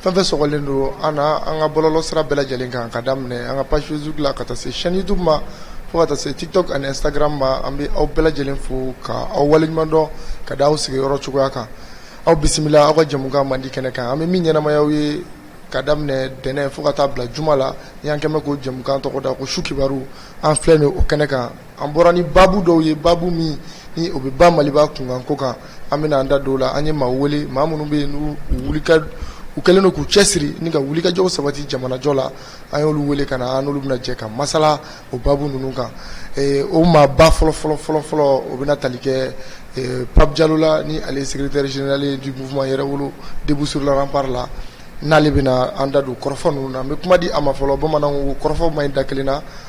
Fɛn fɛn sɔgɔlen don an na an ka bɔlɔlɔ sira bɛɛ lajɛlen kan ka daminɛ an ka page Facebook la ka taa se chaîne YouTube ma fo ka taa se TikTok ani Instagram ma an bɛ aw bɛɛ lajɛlen fo ka aw waleɲuman dɔn ka da aw sigiyɔrɔ cogoya kan aw bisimila aw ka jɛmukan mandi kɛnɛ kan an bɛ min ɲɛnamaya ye ka daminɛ ntɛnɛn fo ka taa bila juma la y'an kɛmɛ ko jɛmukan tɔgɔ da ko su kibaru an filɛ nin o kɛnɛ kan An bɔra ni baabu dɔw ye baabu min ni o bɛ ba maliba kunkan ko kan an bɛna an da don u la an ye maaw wele maa minnu bɛ yen n'u u kɛlen don k'u cɛsiri ni ka wulikajɔw sabati jamanajɔ la an y'olu wele ka na an n'olu bɛna jɛ ka masala o baabu ninnu kan Eh, o maa ba fɔlɔ fɔlɔ fɔlɔ fɔlɔ o bɛna tali kɛ eh, Pape Diallo la ni ale ye secrétaire général ye du mouvement Yɛrɛwolo debout sur le rempart la n'ale bɛna an da don kɔrɔfɔ ninnu na n bɛ kuma di a ma fɔlɔ bamananw ko kɔrɔfɔ man ɲi da kelen na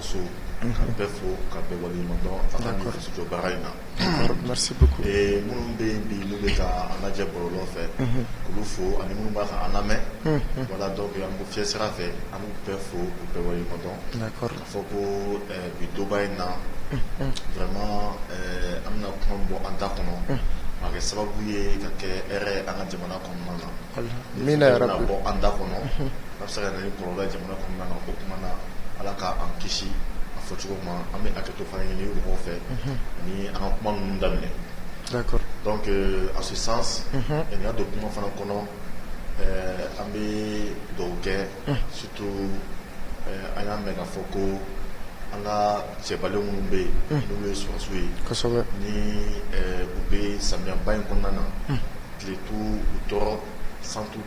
So ka bɛɛ fo ka bɛɛ waleɲuman dɔn a ka nin fasojɔ baara in na merci beaucoup ee minnu bɛ yen bi n'u bɛ ka an lajɛ bɔlɔlɔ fɛ k'olu fo ani minnu bɛ ka an lamɛn voilà donc an bɛ fiɲɛ sira fɛ an b'u bɛɛ fo k'u bɛɛ waleɲuman dɔn d'accord k'a fɔ ko bi donba in na vraiment an bɛna kuma min bɔ an da kɔnɔ a kɛ sababu ye ka kɛ hɛrɛ ye an ka jamana kɔnɔna na amina yarabi min bɛna bɔ an da kɔnɔ A bɛ se ka na ni kɔlɔlɔ ye jamana kɔnɔna na, o kuma na Ala ka an kisi a fɔ cogo ma, an bɛ hakɛto fana ɲini mɔgɔw fɛ, unhun, ni an ka kuma ninnu daminɛ, d'accord, donc en ce sens unhun, n ka don kuma fana kɔnɔ, ɛɛ an bɛ dugawu kɛ, unhun, surtout an y'a mɛn k'a fɔ ko an ka cɛbalen minnu bɛ yen, unhun, n'olu ye sɔrɔdasiw ye, kosɛbɛ, ni u bɛ samiyɛba in kɔnɔna na, unhun, tile t'u tɔɔrɔ, san t'u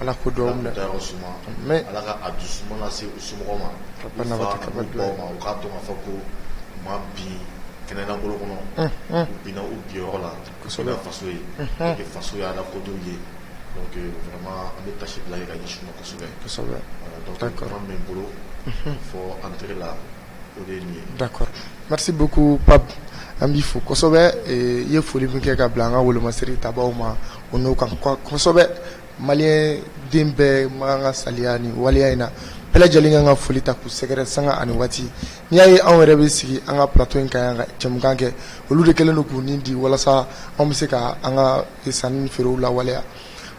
ala k'olu bɛɛ dayɔrɔ suma ala ka a dusu suma lase u somɔgɔw ma u fa n'u baw ma u k'a dɔn k'a fɔ ko u ma bin kɛnɛ lankolon kɔnɔ u binna u binyɔrɔ la ka so ka faso ye faso ye ala kodenw ye donc vraiment an bɛ taasibila kɛ ka ɲɛsin u ma kosɛbɛ min bolo fɔ entrée la D'accord merci beaucoup Pape an b'i fo kosɛbɛ i ye foli min kɛ ka bila an ka wolomasiri tabaw ma o n'o kan kosɛbɛ Malien den bɛɛ man kan ka salaya nin waleya in na bɛɛ lajɛlen k'an ka foli ta k'u sɛgɛrɛ sanga ani waati n'i y'a ye anw yɛrɛ bɛ sigi an ka plateau in kan yan ka jɛmukan kɛ olu de kɛlen don k'u nin di walasa anw bɛ se ka an ka sanni feerew lawaleya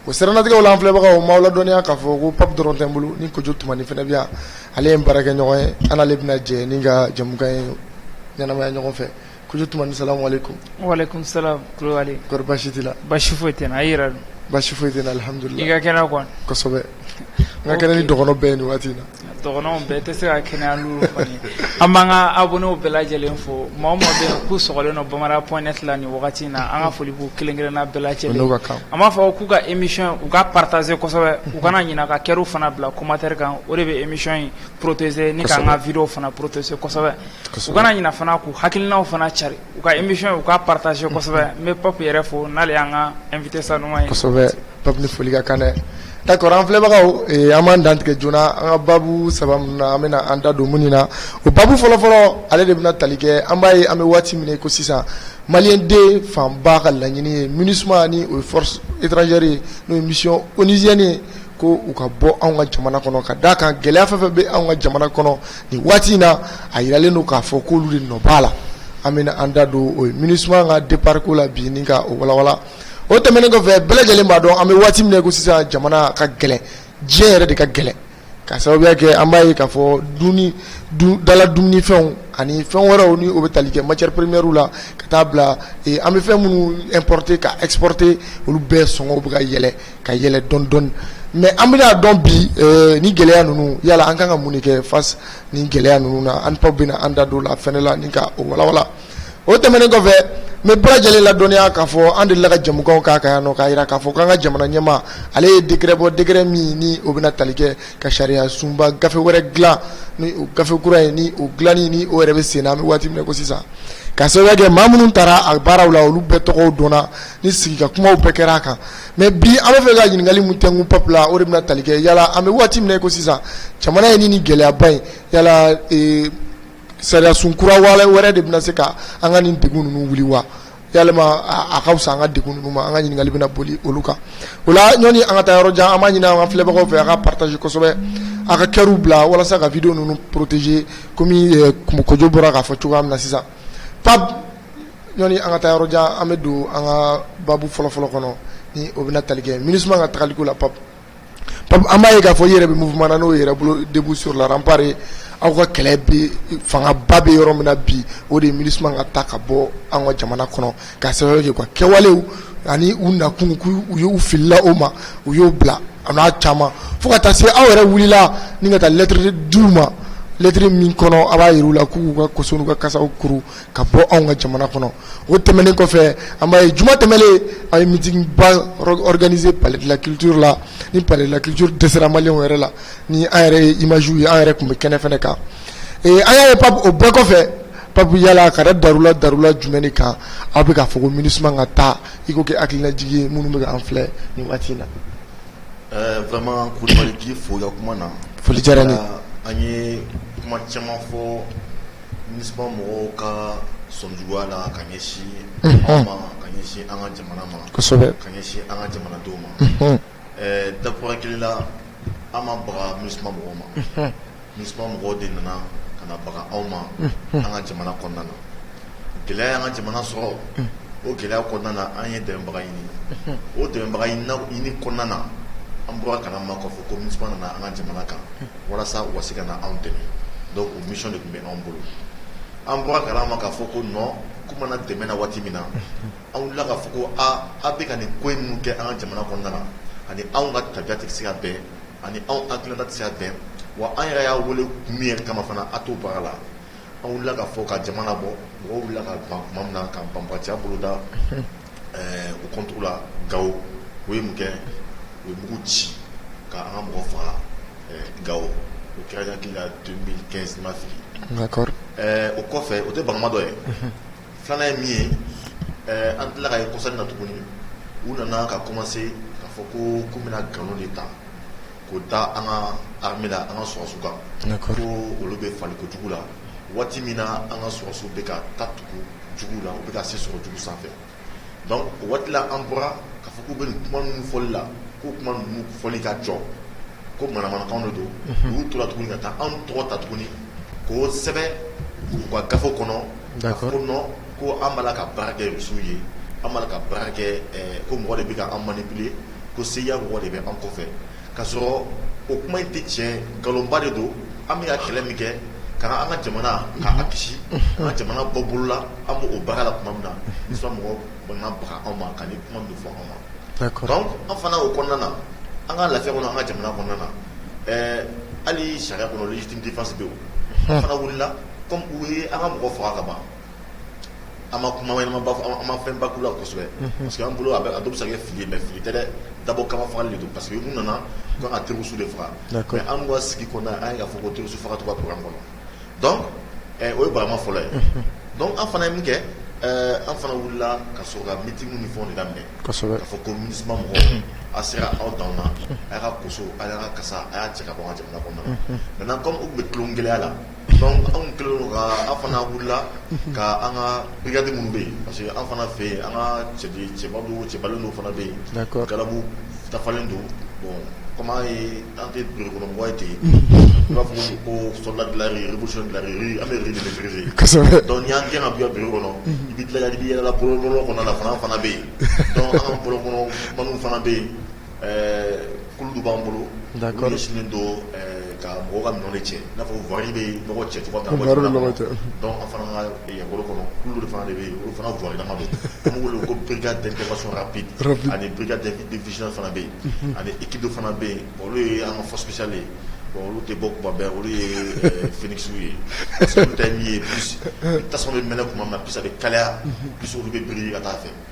o siranatigɛ la an filɛbagaw n b'aw ladɔnniya k'a fɔ ko Pape dɔrɔn tɛ n bolo ni Kojo Tumani fana bɛ yan ale ye n baarakɛɲɔgɔn ye an n'ale bɛna jɛ ni ka jɛmukan in ɲɛnamaya ɲɔgɔn fɛ Kojo Tumani salamu aleykum walaikum salam Kulibali kɔri basi t'i la basi foyi tɛ n na a yɛrɛ dun basi foyi tɛ n na alihamdulilahi i ka kɛnɛ kosɛbɛ n ka kɛnɛ ni dɔgɔnin bɛɛ yen nin waati in na Dɔgɔnɔw bɛɛ tɛ se ka kɛnɛya an b'an ka abonnés bɛɛ lajɛlen fo maa o maa bɛ k'u sɔgɔlen don Bamada point net la nin wagati na an ka foli k'u kelen-kelenna bɛɛ lajɛlen kan an b'a fɔ k'u ka émission u ka partager kosɛbɛ u kana ɲina ka cœurw fana bila commentaire kan o de bɛ émission in protéger ni k'an ka vidéow fana protéger kosɛbɛ u kana ɲina fana k'u hakilinaw fana cari u ka émission u ka partager kosɛbɛ n bɛ Pape yɛrɛ fo n'ale y'an ka invité sanuman ye kosɛbɛ Pape foli ka kan dɛ d'accord an filɛbagaw an b'an dantigɛ joona an ka baabu saba min na an bɛna an da don minnu na o baabu fɔlɔfɔlɔ ale de bɛna tali kɛ an b'a ye an bɛ waati min ko sisan malien den fanba ka laɲini ye MINUSMA ni o ye force étrangère ye n'o ye mission onusienne ye ko u ka bɔ an ka jamana kɔnɔ ka d'a kan gɛlɛya fɛn fɛn bɛ an ka jamana kɔnɔ nin waati in na a yiralen don k'a fɔ k'olu de nɔ b'a la an bɛna an da don o ye MINUSMA ka départ ko la bi ni ka o walawala o tɛmɛnen kɔfɛ bɛɛ lajɛlen b'a dɔn an bɛ waati min na ko sisan jamana ka gɛlɛn diɲɛ yɛrɛ de ka gɛlɛn ka sababuya kɛ an b'a ye k'a fɔ dumuni dala dumunifɛnw ani fɛn wɛrɛw ni o bɛ tali kɛ matière première la ka taa bila an bɛ fɛn minnu importer ka exporter olu bɛɛ sɔngɔw bɛ ka yɛlɛn ka yɛlɛn dɔɔni dɔɔni mais an bɛna a dɔn bi eh, ni gɛlɛya ninnu yala an kan ka mun kɛ face ni gɛlɛya ninnu na an baw bɛna an da don la fɛnɛ la ni ka o walawala o tɛmɛnen kɔfɛ n bɛ bɛɛ lajɛlen ladɔnniya k'a fɔ an delila ka jamukan k'a kan yan nɔ k'a jira k'a fɔ k'an ka jamana ɲɛmaa ale ye décret bɔ décret min ni o bɛna tali kɛ ka sariya sunba gafe wɛrɛ dilan ni o gafe kura ye ni o dilanni ni o yɛrɛ bɛ sen na an bɛ waati min ko sisan ka sababu kɛ maa minnu taara a baaraw la olu bɛɛ tɔgɔw dɔnna ni sigikakumaw bɛɛ kɛra a kan Mais bi an bɛ fɛ ka ɲininkali min tɛnku Pape la o de bɛna tali kɛ yala an bɛ waati min ko sisan jamana ye ni gɛlɛyaba in yala sariyasun kura wɛrɛ de bɛna se ka an ka nin degun ninnu wuli wa walima a ka fisa an ka degun ninnu ma an ka ɲininkali bɛna boli olu kan o la ɲɔni an ka taa yɔrɔ jan an b'a ɲini an ka filɛbagaw fɛ a ka partager kosɛbɛ a ka cœurw bila walasa ka vidéow ninnu protéger kɔmi Kojo bɔra k'a fɔ cogoya min na sisan ɲɔni an ka taa yɔrɔ jan an bɛ don an ka babu fɔlɔfɔlɔ kɔnɔ ni o bɛna tali kɛ MINUSMA ka taaliko la Pape an b'a ye k'a fɔ i yɛrɛ bɛ mouvement na n'o ye Yɛrɛwolo debout sur les remparts aw ka kɛlɛ bɛ fangaba bɛ yɔrɔ min na bi o de ye MINUSMA ka taa ka bɔ an ka jamana kɔnɔ ka sababu kɛ ka kɛwalew ani u nakun u y'u filila o ma u y'o bila a n'a caman fo ka taa se aw yɛrɛ wulila ni ka taa lettre d'u ma lettre min kɔnɔ a b'a yira u la k'u ka koso n'u ka kasaw kuru ka bɔ anw ka jamana kɔnɔ o tɛmɛnen kɔfɛ an b'a ye juma tɛmɛnen a ye meeting ba organiser palais de la culture la ni palais de la culture dɛsɛra maliyɛnw yɛrɛ la ni an yɛrɛ ye imagew ye an yɛrɛ tun bɛ kɛnɛ fana kan an y'a ye Pape o bɛɛ kɔfɛ Pape yala ka da darula darula jumɛn kan aw bɛ k'a fɔ ko MINUSMA ka taa i k'o kɛ hakililajigi ye minnu bɛ k'an filɛ nin waati in na vraiment Kulibali k'i fo i ka kuma na foli diyara n ye an ye kuma caman fɔ mɔgɔw ka sɔnjuguya la ka ɲɛsin anw ma ka ɲɛsin an ka jamana ma kosɛbɛ ka ɲɛsin an ka jamanadenw ma ɛɛ dakura hakili la an ma baga MINUSMA mɔgɔw ma MINUSMA mɔgɔw de nana ka na baga anw ma an ka jamana kɔnɔna na gɛlɛya y'an ka jamana sɔrɔ o gɛlɛya kɔnɔna na an ye dɛmɛbaga ɲini o dɛmɛbaga ɲini kɔnɔna na an bɔra kala ma k'a fɔ ko MINUSMA nana an ka jamana kan walasa u ka se ka na anw dɛmɛ o mission de tun bɛ anw bolo an bɔra kala ma k'a fɔ ko nɔn k'u ma na dɛmɛ na waati min na anw wulila k'a fɔ ko aaa aw bɛ ka nin ko in minnu kɛ an ka jamana kɔnɔna na ani anw ka tabiya tɛ se ka bɛn ani anw anw hakilina tɛ se ka bɛn wa an yɛrɛ y'a wele kun min yɛrɛ kama fana a t'o baara la an wulila k'a fɔ ka jamana bɔ mɔgɔw wulila ka ban tuma min na ka banbatiya boloda Ɛɛ u contre la gawo u ye mun kɛ u ye mugu ci ka an ka mɔgɔ faga gawo o kɛra hakili la deux mille quinze n ma fili o kɔfɛ o tɛ bagama dɔ ye filanan ye min ye an tila ka ye kɔsa in na tuguni u nana ka kɔmanse k'a fɔ k'u bɛna nkalon de ta k'o da an ka armée la an ka sɔrɔdasiw kan ko olu bɛ fagali kojugu la waati min na an ka sɔrɔdasiw bɛ ka taa tugu jugu la u bɛ ka se sɔrɔ jugu sanfɛ dɔnku o waati la an bɔra k'a fɔ k'u bɛ nin kuma ninnu fɔli la ko kuma ninnu fɔli ka jɔ ko manamanakan de don u u tora tuguni ka taa an tɔgɔ ta tuguni k'o sɛbɛn u ka gafe kɔnɔ ko nɔn ko an b'a la ka baara kɛ rusiw ye an b'a la ka baara kɛ ko mɔgɔ de bɛ ka an manipuler ko CIA mɔgɔ de bɛ an kɔfɛ k'a sɔrɔ o kuma in tɛ tiɲɛ nkalonba de don an bɛ ka kɛlɛ min kɛ ka an ka jamana k'a kisi an ka jamana bɔ bolola an b'o baara la tuma min na MINUSMA mɔgɔw bɛna baga anw ma ka nin kuma min fɔ anw ma dɔnku an fana o kɔnɔna na an ka lafiya kɔnɔ an ka jamana kɔnɔna na ɛɛ hali sariya kɔnɔ légitime défense bɛ yen an fana wulila kɔmi u ye an ka mɔgɔ faga ka ban an ma kuma an ma fɛn ba k'u la kosɛbɛ parce que an bolo a dɔw bɛ se ka kɛ fili ye mɛ fili tɛ dabɔ kama fagali de don parce que u nana ka terroriste de faga mɛ an ka sigi kɔnɔna an ye k'a fɔ ko terroriste faga t'u ka programme kɔnɔ dɔnku o ye barama fɔlɔ ye dɔnku an fana ye min kɛ an fana wulila ka sɔrɔ ka meeting ni fɛnw de daminɛ k'a fɔ ko MINUSMA mɔgɔw a sera aw dan na a y'a ka a y'a ka kasa a y'a cɛ ka bɔ an ka jamana kɔnɔna na maintenant kɔmi u bɛ tulogɛlɛya la anw kɛlen ka an fana wulila ka an ka bikari minnu bɛ yen parce que an fana fɛ yen an ka cɛbabaliw fana bɛ yen gabu dafalen don kɔmi ye an tɛ donmɔgɔ ye ten yen b'a fɔ ko sola an bɛ gɛn ka bi bi kɔnɔ i bɛ dilanli yɛlɛla bolo kɔnɔ fana fana bɛ yen an ka bolo kɔnɔ fana bɛ yen Ɛɛ kulu dɔ b'an bolo d'accord minnu ɲɛsinnen don ɛɛ ka mɔgɔw ka minɛnw de cɛ i n'a fɔ voirie bɛ nɔgɔ cɛ cogoya min na voirie bɛ nɔgɔ cɛ donc an fana ka Yɛrɛwolo kɔnɔ kulu dɔ de fana de bɛ yen olu fana voirie lama don an b'u wele ko brigade d'intervention rapide ani brigade de vigilance fana bɛ yen ani équipe dɔ fana bɛ yen bon olu ye an ka force spéciale ye bon olu tɛ bɔ tuma bɛɛ olu ye ɛɛ Phoenix ye parce que olu ta ye min ye plus ni tasuma bɛ mɛnɛ tuma min na plus a bɛ kalaya plus olu bɛ biri ka taa a fɛ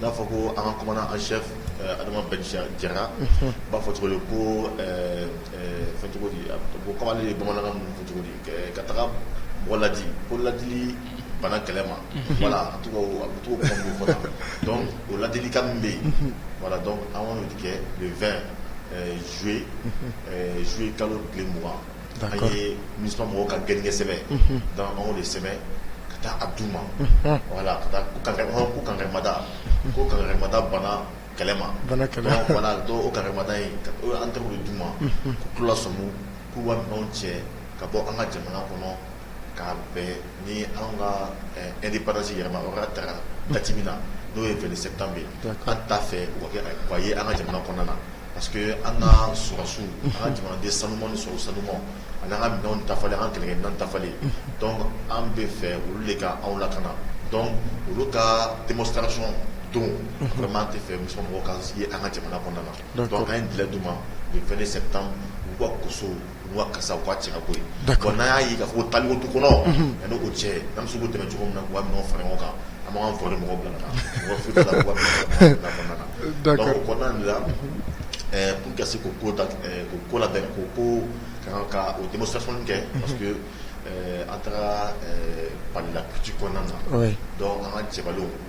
N'a fɔ ko an ka kuma an shɛ adama jara b'a fɔ cogo ko cogo ko kamalenle ye bamanankan cogo ka taga mɔgɔ ladi ko ladi bana kɛlɛ ma wala to dɔn o ladili ka min bɛ yen wala dɔn an kɔni kɛ fɛn zoe zoe kalo bilen mɔgɔ D'accord an ye MINUSMA mɔgɔw ka gɛnkɛsɛbɛn unhun donc an y'o de sɛbɛn ka taa a d'u ma unhun voilà ka taa ko kankari hɔn ko kankarimada unhun ko kankarimada banna kɛlɛ ma banna kɛlɛ ma donc voilà donc o kankarimada in ka o an taar'o de d'u ma unhun k'u k'u lasɔmi k'u ka minɛnw cɛ ka bɔ an ka jamana kɔnɔ ka bɛn ni anw ka indépendance yɛrɛ ma, o ka ta date min na n'o ye 22 septembre ye, d'accord an t'a fɛ o ka kɛ a ye an ka jamana kɔnɔna na parce que an ka sɔrɔdasiw, unhun, an ka jamanaden sanuman ni sɔrɔdasi sanumanw ani an ka minɛnw dafalen an ka kɛlɛkɛminɛnw dafalen, unhun, donc an bɛ fɛ olu de ka anw lakana donc olu ka démonstration don, unhun, vraiment an tɛ fɛ MINUSMA mɔgɔw ka ye an ka jamana kɔnɔna na, d'accord donc an ye délai d'u ma le 22 septembre u k'u ka koso U ka kasa u k'a cɛ ka bɔ yen d'accord bon n'an y'a ye k'a fɔ ko taaliko t'u kɔnɔ unhun yani o cɛ an bɛ se k'u dɛmɛ cogo min na k'u ka minɛnw fara ɲɔgɔn kan an b'an ka voirie mɔgɔw bila ka taa voie foyi t'a la k'u ka minɛnw fara ɲɔgɔn kan jamana kɔnɔna na d'accord donc o kɔnɔna de la ɛɛ pour que ka se k'o ko da ɛɛ k'o ko labɛn k'o ko ka kan ka o démonstration nin kɛ unhun parce que ɛɛ an taara ɛɛ Palais de la culture kɔnɔna na oui donc an ka cɛbalenw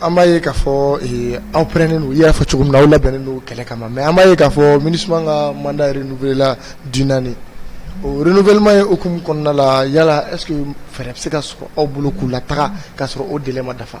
an b'a ye k'a fɔ aw parelen don i y'a fɔ cogo min na aw labɛnnen don kɛlɛ kama mais an b'a ye k'a fɔ MINUSMA ka mandat renouvelela d'une année o renouvellement ye o hukumu kɔnɔna la yala est-ce que fɛɛrɛ bɛ se ka sɔrɔ aw bolo k'u lataga k'a sɔrɔ o délai ma dafa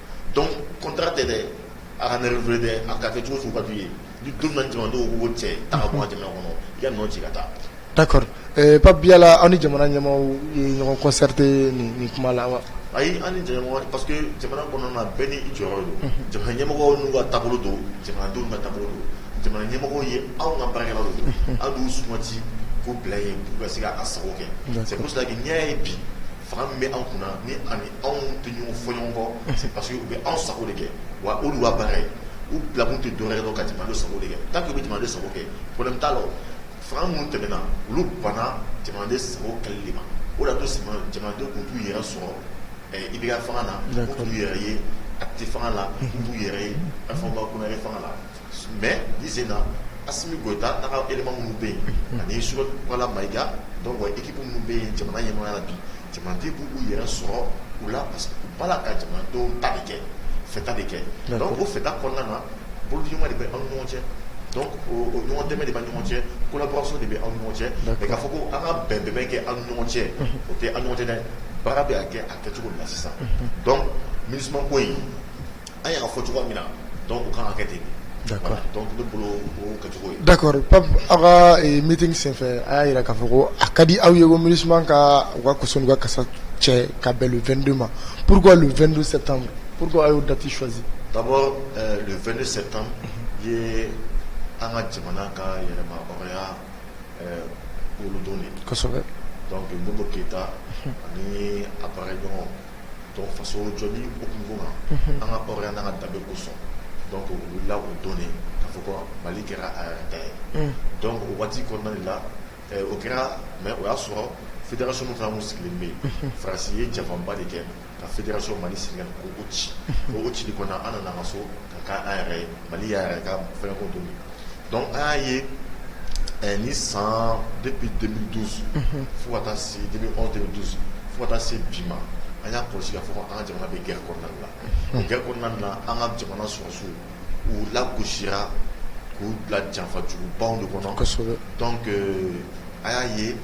Donc contrat de a kana renouveler a ka kɛ cogo ka ye ni don jama cɛ a ka kuma jamana kɔnɔ i ka nɔ ci ka taa d'accord Pape Diallo aw ni jamana ɲɛmaaw ye ɲɔgɔn concerté nin kuma la wa ayi an ni jamana ɲɛmaa parce que jamana kɔnɔna bɛɛ n'i jɔyɔrɔ don jamana ɲɛmɔgɔ n'u ka taabolo don jamanadenw n'u ka taabolo don jamana ɲɛmɔgɔ ye anw ka baarakɛla don an d'u sugandi k'u bila yen pour u ka se k'an sago kɛ c'est pour cela que an y'a ye bi Fanga min bɛ anw kunna nin ani anw tɛ ɲɔgɔn fɔ ɲɔgɔn kɔ c'est parce que u bɛ anw sago de kɛ wa olu ka baara ye u bilakun tɛ dɔwɛrɛ don ka jamanaden sago de kɛ tant qu'u bɛ jamanaden sago kɛ problème t'a la fanga minnu tɛmɛna olu banna jamanaden sago kɛli ma o d'a to jamanadenw tun t'u yɛrɛ sɔrɔ IBK fanga la u t'u yɛrɛ ye ATT fanga la u t'u yɛrɛ ye Alpha Oumar Konaré fanga la mais bi sen na Assimi Goïta n'a ka élément minnu bɛ yen ani Choguel Maïga donc équipe minnu bɛ yen jamana ɲɛmɔgɔya la bi jamanaden b'u yɛrɛ sɔrɔ u la parce que u b'a la ka jamanadenw ta bɛ kɛ fɛta de kɛ donc o fɛta kɔnɔna na bolodiɲɔgɔnma de bɛ anw ɲɔgɔn cɛ ɲɔgɔn dɛmɛ de bɛ ɲɔgɔn cɛ collaboration de bɛ anw ɲɔgɔn cɛ mais k'a fɔ ko an ka bɛn bɛn kɛ anw ɲɔgɔn cɛ o tɛ an ɲɔgɔn cɛ dɛ baara bɛ' kɛ a kɛcogo na sisan donc MINUSMA ko yen An y'a fɔ cogo min na dɔn u kan kɛ ten da dakɔrɔ pa aw ka mit senfɛ a y'a jira k'a fɔ ko a ka di aw ye ko mini suma ka u ka kusa ka kasa cɛ ka bɛn2 ma p walasaur2 sɛ tan p a y'o dati swaanz ka bɔ 2 sɛ tan ye an ka jamana ka yɛlɛma olu don keyita ani a bara ɲɔgɔn donc faso jɔli hukumu kɔnɔ an ka hɔrɔnya n'an ka danbe kosɔn donc u wulila o don de k'a fɔ ko mali kɛra a yɛrɛ ta ye donc o waati kɔnɔna de la eh, o kɛra mais o y'a sɔrɔ fédération min fana tun sigilen bɛ yen faransi ye janfanba de kɛ ka fédération mali Sénégal ko o ci o cili kɔnɔna an nana an ka so ka an yɛrɛ ye mali y'a yɛrɛ ka fɛn ko don donc an y'a ye nin san depuis 2012 fo ka taa se 2011 2012 fo ka taa se bi ma an y'a kɔlɔsi k'a fɔ an ka jamana bɛ guerre kɔnɔna la guerre kɔnɔna na an ka jamana sɔrɔdasiw u lagosira k'u bila janfa jugu baw de kɔnɔ donc an y'a ye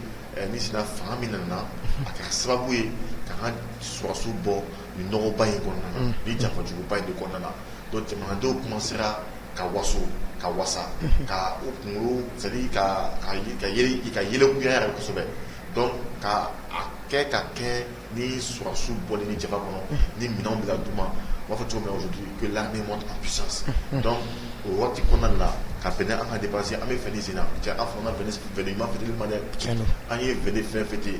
nin sen na fanga min nana a kɛra sababu ye k'an ka sɔrɔdasiw bɔ nin nɔgɔba in kɔnɔna na ni janfajuguba in de kɔnɔna na donc jamanadenw kɔmansera ka waso ka wasa ka u kunkolo c'est à dire ka yɛlɛkuya yɛrɛ kosɛbɛ donc ka a kɛ ka kɛ ni sɔrɔdasiw bɔli nin janfa kɔnɔ ni minɛnw bɛ ka d'u ma u b'a fɔ cogo min aujourd'hui que l'armée monte en puissance donc o waati kɔnɔna la ka bɛn n'an ka indépendance an bɛ fɛn sen na cɛ an fana bɛ Fɛn ɲuman fêter ma dɛ an ye fɛn fɛn fêter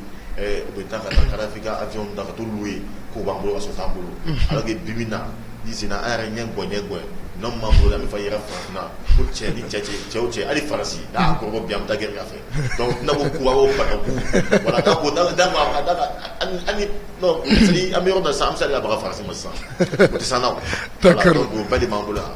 u bɛ taa ka taa Kadhafi ka avion dɔw ta k'o louer k'u b'an bolo ka sɔrɔ t'an bolo alors que bi min na i sen na an yɛrɛ ɲɛ ŋ ɲɛ gɛn n'an ma bolo an bɛ fa yɛrɛ farafinna ko cɛ ni cɛ cɛ cɛw cɛ hali Faransi n'a kɔrɔbɔ bi an bɛ taa gɛrɛ a fɛ donc n'a ko ku wala da ko dala d'a ma an ka an bɛ yɔrɔ dɔ sisan an bɛ se ka baga Faransi ma sisan san ba b'an bolo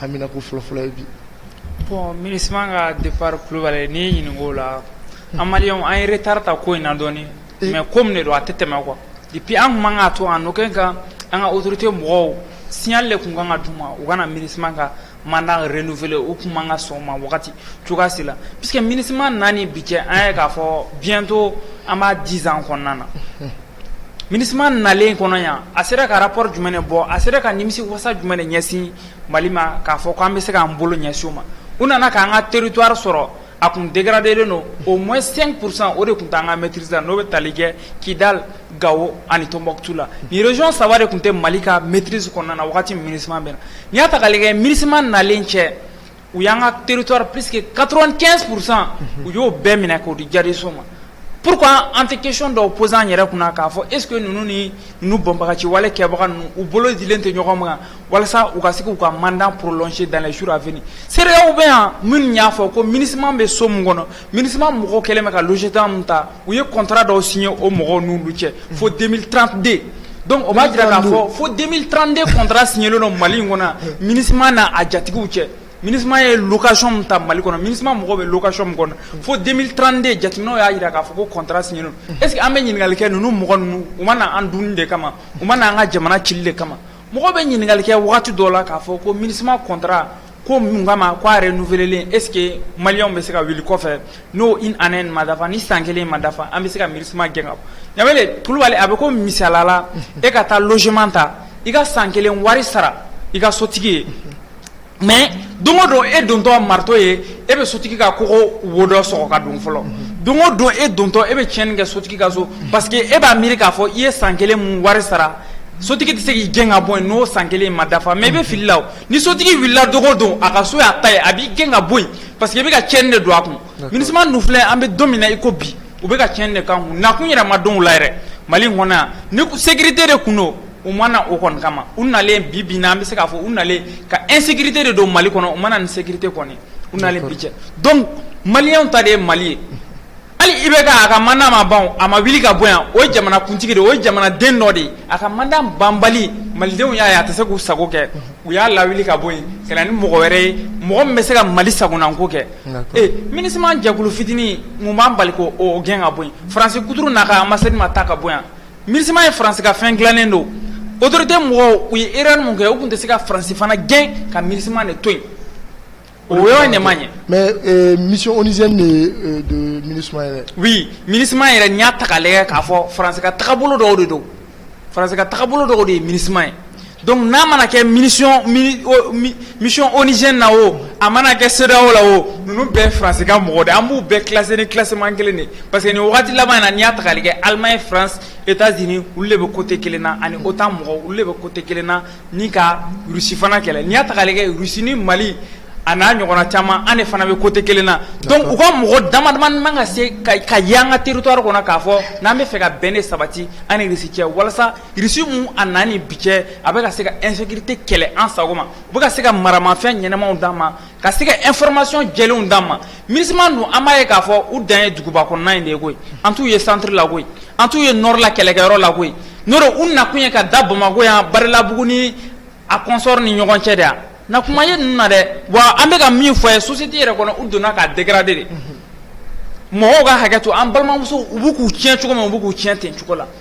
Anmina ko fɔlɔfɔlɔ ye bi bɔn mini ka de kulubali n'i ɲininka'o la an an yɛrɛ taara ta ko in na dɔɔnin mɛ ko min de don a tɛ tɛmɛ kuwa ipi an tun ka to an kɛ kan an ka otote mɔgɔw siyalen de tun kan ka d ma u kana mini ka manda yɛrɛ n' fɛ u tun ka sɔn ma wagati cogoyasi la p que mini naani bi kɛ an ye k'a fɔ biɲɛtɔ an b'a diz kɔnɔna na MINUSMA nalen kɔnɔ yan a sera ka rapport jumɛn bɔ a sera ka nimisi wasa jumɛn ɲɛsin mali ma k'a fɔ k'an bɛ se k'an bolo ɲɛsin o ma u nana k'an ka territoire sɔrɔ a tun dégradélen don au moins cinq pour cent o de tun t'an ka maîtrise la n'o bɛ tali kɛ Kidal Gao ani Tombouctou la ni région saba de tun tɛ mali ka maîtrise kɔnɔna na waati MINUSMA bɛ na n'i y'a ta k'a lajɛ MINUSMA nalen cɛ u y'an ka teritori p que kato kɛ kurusan u y'o bɛɛ minɛ k'o di jaso ma p an tɛ kec dɔw pzsan yɛrɛ kunna k'a fɔ ese ninnu ni nu bɔnbaga ci wale kɛbaga ninnu u bolo lajɛlen tɛ ɲɔgɔn ma walasa u ka se k'u ka manda psi dan suur af seerew bɛ yan minnu y'a fɔ ko minima bɛ so min kɔnɔ MINUSMA mɔgɔw kɛlen ka logement min ta u ye contrat dɔw signé o mɔgɔw n'olu cɛ fo deux mille trente-deux donc o b'a jira k'a fɔ fo deux mille trente-deux contrat signélen don mali in kɔnɔ MINUSMA n'a a jatigiw cɛ MINUSMA ye location min ta mali kɔnɔ MINUSMA mɔgɔw bɛ location min kɔnɔ fo deux mille trente-deux jateminɛw y'a jira k'a fɔ ko contrat signé don est ce que an bɛ ɲininkali kɛ ninnu mɔgɔ ninnu u ma na an dun de kama u ma na an ka jamana ci de kama mɔgɔ bɛ ɲininkali kɛ waati dɔ la k'a fɔ ko MINUSMA contrat ko mun kama ko a renouvelé est ce que maliyɛnw bɛ se ka wuli kɔfɛ n'o une année in ma dafa ni san kelen ma dafa an bɛ se ka MINUSMA gɛn ka bɔ Danbɛlɛ Kulubali a bɛ komi misaliya la e ka taa logement ta i ka san kelen wari sara i ka sotigi ye mais don o don e dontɔ marteau ye e bɛ sotigi ka kogo wo dɔ sɔgɔ ka don fɔlɔ don o don e dontɔ e bɛ tiɲɛni kɛ sotigi ka so parce que e b'a miiri k'a fɔ i ye san kelen mun wari sara sotigi tɛ se k'i gɛn ka bɔ yen n'o san kelen in ma dafa mais i bɛ fili la o. Ni sotigi wulila don o don a ka so y'a ta ye a b'i gɛn ka bɔ yen parce que i bɛ ka cɛn de don a kun MINUSMA ninnu filɛ an bɛ don min na i ko bi u bɛ ka cɛn de k'an kun nakun yɛrɛ ma dɔn u la yɛrɛ mali in kɔnɔ yan ni sécurité de tun don u ma na o kɔni kama u nalen bi bi na an bɛ se k'a fɔ u nalen ka insécurité de don mali kɔnɔ u ma na ni sécurité kɔni u nalen bi cɛ donc maliyɛnw ta de ye mali ye Hali IBK a ka mandat ma ban o, a ma wuli ka bɔ yan, o ye jamanakuntigi de ye, o ye jamanaden dɔ de ye, a ka mandat banbali malidenw y'a ye a tɛ se k'u sago kɛ, u y'a lawuli ka bɔ yen ka na ni mɔgɔ wɛrɛ ye mɔgɔ min bɛ se ka Mali sagonako kɛ, d'accord, e MINUSMA jɛkulu fitinin mun b'an bali k'o gɛn ka bɔ yen, France kuturu n'a ka ambassade ma taa ka bɔ yan, MINUSMA ye France ka fɛn dilannen de ye o, autorités mɔgɔw u ye erreur min kɛ u tun tɛ se ka France fana gɛn ka MINUSMA de to yen O yɔrɔ ɲɛ ɲɛ mɛ misi oz yɛrɛ mini yɛrɛ n y'a taale k'a fɔ faranse taabolo dɔw de don faranse taabolo dɔw de ye mini ye dɔnku n'a mana kɛ mini misi oze na o a mana kɛ seda o la o ninnu bɛɛ faranse ka mɔgɔ de an b'u bɛɛ kise ni kiman kelen de pa que nin waati laban in na n y'a taale kɛ alima ye faran e t'a z olu de bɛ kote kelen na ani o taa mɔgɔ olu de bɛ kote kelen na ni ka Russie fana kɛlɛ n'i y'a ta k'a lajɛ Russie ni Mali a n'a ɲɔgɔnna caman an de fana bɛ côté kelen na donc u ka mɔgɔ damadama man ka se ka y'an ka territoire kɔnɔ k'a fɔ n'an bɛ fɛ ka bɛn ne sabati an ni Russie cɛ walasa Russie mun a na ni bi cɛ a bɛ ka se ka insécurité kɛlɛ an sago ma u bɛ ka se ka maramafɛn ɲɛnamaw d'an ma ka se ka information jɛlenw d'an ma MINUSMA dun an b'a ye k'a fɔ u dan ye duguba kɔnɔna in de ye koyi an t'u ye centre la koyi an t'u ye nord la kɛlɛkɛyɔrɔ la koyi n'o tɛ u nakun ye ka da Bamakɔ yan Badalabugu ni a consort ni ɲɔgɔn cɛ de a na kuma ye ninnu na dɛ wa an bɛ ka min fɔ a ye société yɛrɛ kɔnɔ u donna k'a dégrader de mɔgɔw ka hakɛ to an balimamusow u bɛ k'u tiɲɛ cogo min u bɛ k'u tiɲɛ ten cogo la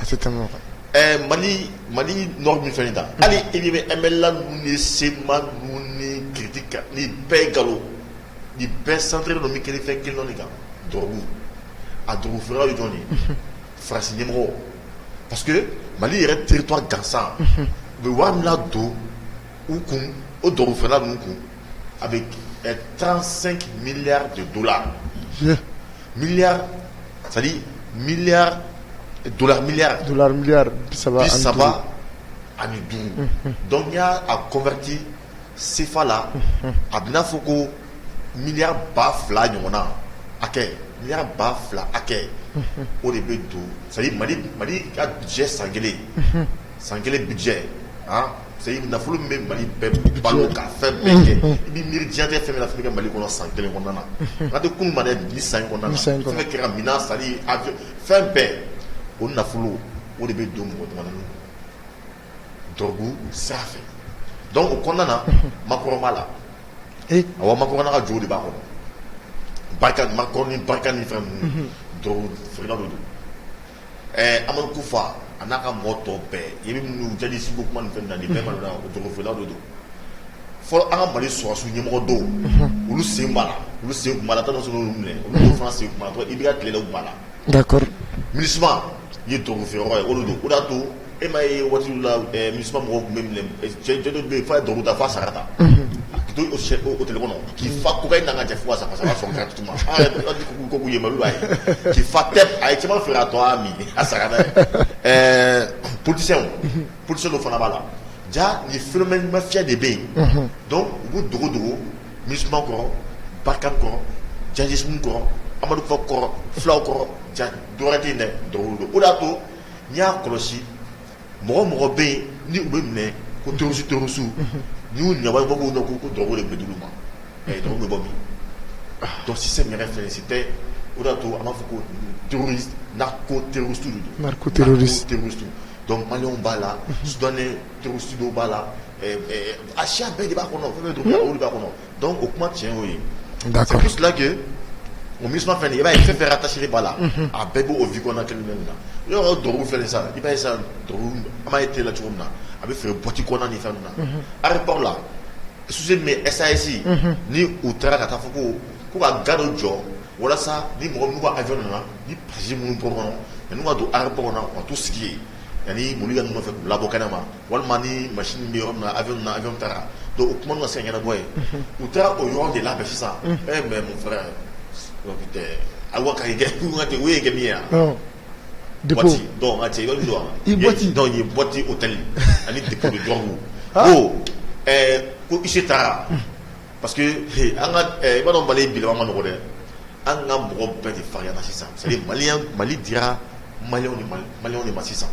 a tɛ tɛmɛ o kan. Ɛɛ Mali Mali nord ninnu ni fɛn ninnu tan, hali i ɲɛ bɛ MNLA ninnu ni CMA ninnu ni Critic kan nin bɛɛ ye nkalon ye, nin bɛɛ centrélen don min kelen fɛn kelen dɔrɔn de kan dɔrɔgu, a dɔrɔgu feerelaw ye jɔni ye? Unhun, France ɲɛmɔgɔ parce que Mali yɛrɛ territoire gansan, unhun, u bɛ wari min ladon u kun o dɔrɔgu feerela ninnu kun a bɛ tanransan miya de do la miya miyaya saba saba ani duuru dɔn y' a kɔnmti senfa la a bɛ'a fɔ ko miya ba fila ɲɔgɔn na a miya ba fila a kɛ o de bɛ don sa mali mali ka jɛ san kelen san kelen bijɛ nafolo bɛ mali bɛɛ balo ka fɛn bɛɛ kɛ i bɛ miiri jan fɛn min f ka mali kɔnɔ san kelen kɔnɔna na a tɛ kun mari bi san kɛra minɛn sa a fɛn bɛɛ o nafolo o de bɛ don mɔgɔbabu sa fɛ dɔnku o kɔnɔna na makɔrɔba la a makɔrɔn ka jo de b'a kɔnɔ barika ma ni barika ni fɛn don Ɛɛ amadu ku fa a n'a ka mɔ tɔ bɛɛ i bɛ minnu jeli segu kuma fɛ na bɛɛ malo la o jɔnfila de don fɔlɔ an ka mali sɔsiw ɲɛmɔgɔ don olu sen olu sen la tan s minɛ olu fana sen i bɛ tilelawba la mini ye donfɛ ye olu don o' to E m'a ye waati dɔ la MINUSMA mɔgɔw tun bɛ minɛ cɛ dɔ bɛ yen f'a ye drogue ta f'a sara ta, unhun, k'i to hôtel kɔnɔ k'i fa cocaïne na ka jɛ fo ka sa parce que a b'a sɔrɔ gratuitement, aa yɛrɛ dɔw ka jugu kojugu u ye Mali la yan, k'i fa tɛp a ye caman feere k'a tɔ a min a sara n'a ye, ɛɛ politiciens politiciens dɔ fana b'a la jaa nin phénomène mafiya de bɛ yen, unhun, donc u b'u dogo dogo MINUSMA kɔrɔ, Barkhane kɔrɔ, djihadisme kɔrɔ, Amadu Kufa kɔrɔ, fulaw kɔrɔ, ja dɔwɛrɛ tɛ yen dɛ, drogue de don o de y'a to N y'a kɔlɔsi mɔgɔ mɔgɔ bɛ yen ni bɛ minɛ ko tosi tosu n'u ɲa bɔ k'u dɔn k'u ko dɔgɔ de bɛ dugu ma dɔw bɛ bɔ min tɔsi se minɛ fɛ si tɛ o da to an b'a fɔ ko na ko terirosu dɔn man b'a la su dannen terirosu b'a la a si bɛɛ de b'a kɔnɔ bɛ don olu b'a kɔnɔ Dɔn o kuma tiɲɛ o ye filakɛ o mi fɛn i b'a ye fɛn fɛ kasi b'a la a bɛɛ b' o vi kɔnɔ kelen min na i y'a dɔgɔ fɛ sa i b'a sa ye t la cogo min na a bɛ fɛ bɔti kɔnɔna ni fɛn na ari baw la su bɛ ɛzsi ni u taara ka taa fɔ ko ko ka ga jɔ walasa ni mɔgɔ ajɔ nana ni pasi minnu bɔ kɔnɔ ani ka don ara bamanan ka tu sigi ye ani boli ka ɲɔgɔn fɛ labɔ kɛnɛ ma walima ni ma bɛ yɔrɔ na a bɛ na ɲɔgɔn taara don u kuma ka san yɛrɛ bɔ ye u taara o ɲɔgɔn de la bɛ sisan e mɛ mun fara a ka ye kɛ min yan de cɛ i don wa i bɔti o tali ani jɔnbugu ko ko isi taara Parce que i b'a dɔn mali bilama ma nɔgɔ dɛ an ka mɔgɔ bɛɛ de farinyana sisan mali mali dira maliyɛnw de ma sisan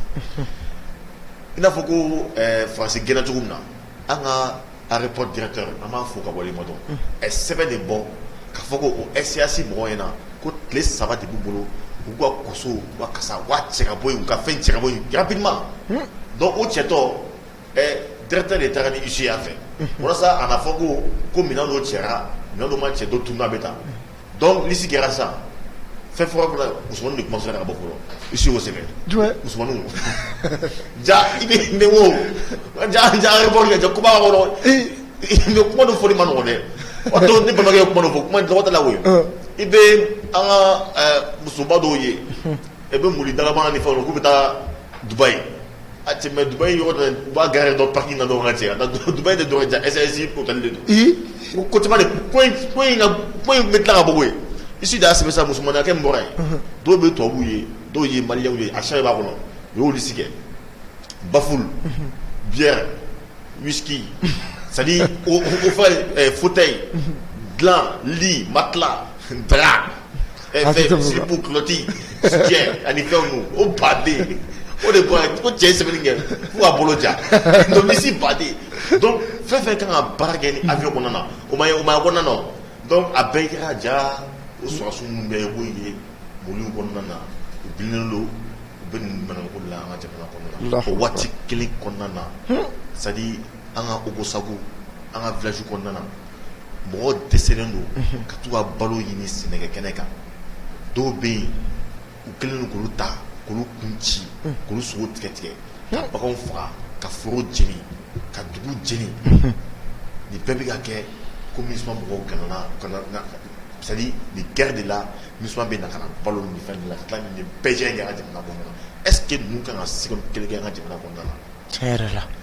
i n'a fɔ ko faransi gɛnna cogo min na an ka aéroport directeur an b'a fo k'a waleɲumandɔn ɛ sɛbɛn de bɔ k'a fɔ ko SAS mɔgɔw ɲɛna ko tile saba de b'u bolo u ka waso ka cɛ ka bɔ yen u ka fɛn cɛ ka bɔ yen rapidement donc o cɛtɔ de taara ni huissier fɛ walasa a kana fɔ ko ko minɛn dɔ cɛra minɛn dɔ ma cɛ dɔ tununa bɛ taa donc lisi kɛra sa fɛn fɔlɔ fɔlɔ musoman de commencé ka bɔ fɔlɔ huissier y'o sɛbɛn musoman ja i bɛ ne wo ja ja kuma i bɛ kuma dɔ fɔli ma nɔgɔ dɛ o don ne balimakɛ ye kuma dɔ fɔ kuma dɔgɔda la i bɛ an ka musoba dɔw ye i bɛ mobili dakabana ni fɛnw k'u bɛ taa dubayi A tɛ mɛ duba in yɔrɔ dɔ u b'a gari dɔ paki na dɔrɔn ka cɛ a duba in de dɔrɔn cɛ ɛzsi ko tali don ee ko ko in bɛ tila kabugu ye i si' a sɛbɛn sa musoman kɛ n bɔra ye dɔw bɛ tubabubu ye dɔw ye maliw ye a sa b'a kɔnɔ u y'olu si kɛ bafu bi misi sa fa ye futa ye dilan li matila drap siribu kulɔti soutien ani fɛnw ninnu o baden o de bɔra yen ko cɛ ye sɛbɛnni kɛ fo k'a bolo ja donc misi baden donc fɛn fɛn kan ka baara kɛ ni avion kɔnɔna na o ma ye kɔnɔna na o donc a bɛɛ kɛra ja o sɔrɔdasiw minnu bɛ k'o ye mɔbili kɔnɔna na u bilennen don u bɛ nin manamanako de la an ka jamana kɔnɔna na o waati kelen kɔnɔna na c'est à dire an ka Ogosagu an ka village kɔnɔna na mɔgɔw dɛsɛlen don ka t'u ka balo ɲini sɛnɛkɛ kɛnɛ kan dɔw bɛ yen u kɛlen don k'olu ta k'olu kun ci k'olu sogo tigɛ tigɛ ka baganw faga ka foro jeni ka dugu jeni nin bɛɛ bɛ ka kɛ ko MINUSMA mɔgɔw ɲɛ na c'est à dire nin guerre de la MINUSMA bɛ na ka na balo nin fɛn ninnu na ka tila ka nin bɛɛ kɛ an ka jamana kɔnɔna na est ce que ninnu ka kan ka seconde kelen kɛ an ka jamana kɔnɔna na tiɲɛ yɛrɛ la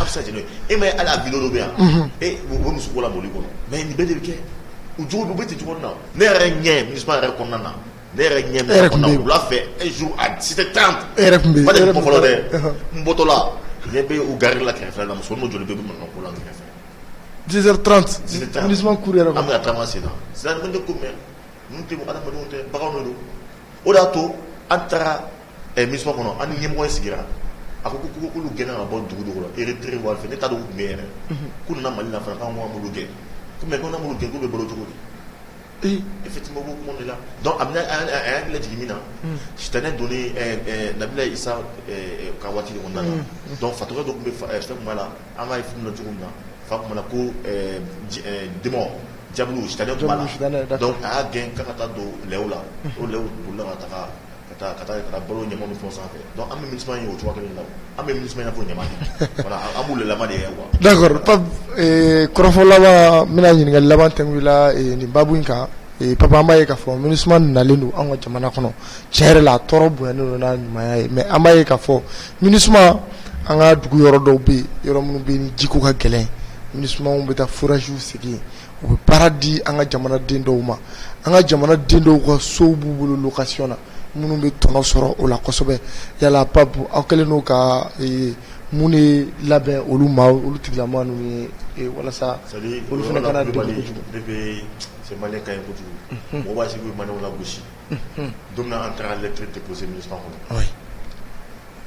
A bɛ n'o e ma ye hali video dɔ bɛ yan o bɛ musoko la mɔbili kɔnɔ mais nin bɛɛ de bɛ kɛ u jogo don u bɛ ten cogo na ne yɛrɛ ɲɛ MINUSMA yɛrɛ kɔnɔna na ne yɛrɛ ɲɛ wula fɛ un jour à dix sept heures trente yɛrɛ tun bɛ fɔlɔ dɛ n bɔtɔla ne bɛ u gari la kɛrɛfɛ la muso n'u jɔlen bɛ mankan ko la kɛrɛfɛ yɛrɛ an bɛ taama sen na c'est à dire ko mais ninnu adamadenw tɛ baganw de don o de y'a to an taara MINUSMA kɔnɔ an ni ɲɛmɔgɔ sigira a ko k'olu gɛnna ka bɔ dugu dugu e teri waati fɛ ne t'a dɔn u tun bɛ yɛrɛ k'u nana Mali la anwgolo gɛn kɔmi ko gɛn k'u bɛ bolo cogo di effectivement bɛ kuma la a bɛ a y'a jigin min na si tɛ ne don labila sa ka waati na dɔn fato dɔ tun bɛ fɛn la an ka f cogo min na fa tun na ko di jamu a y'a gɛn ka ka taa don la o la ka taa ka taa ka taa balo ɲama fɔ sanfɛ an bɛ MINUSMA ye o cogo la an bɛ MINUSMA ɲɛfɔ ɲama an b'u la de ye wa kɔrɔfɔ laban n bɛna ɲininkali laban kɛ i la nin baabu in kan Pap an b'a ye k'a fɔ MINUSMA nalen don an ka jamana kɔnɔ tiɲɛ yɛrɛ la a tɔɔrɔ bonyalen don n'a ɲumanya ye mais an b'a ye k'a fɔ MINUSMA an ka dugu yɔrɔ dɔw bɛ yen yɔrɔ minnu bɛ yen ni jiko ka gɛlɛn MINUSMA bɛ taa forages sigi u bɛ baara di an ka jamana den dɔw ma an ka jamana den dɔw ka sow b'u bolo location na minnu bɛ tɔnɔ sɔrɔ o la kosɛbɛ yala Pap aw kɛlen don ka mun de labɛn olu ma olu tigilamɔgɔ ninnu ye walasa olu fana kana degun kojugu ka kojugu mɔgɔ sigi man la gosi don min na an taara lettre déposer MINUSMA kɔnɔ, wayi,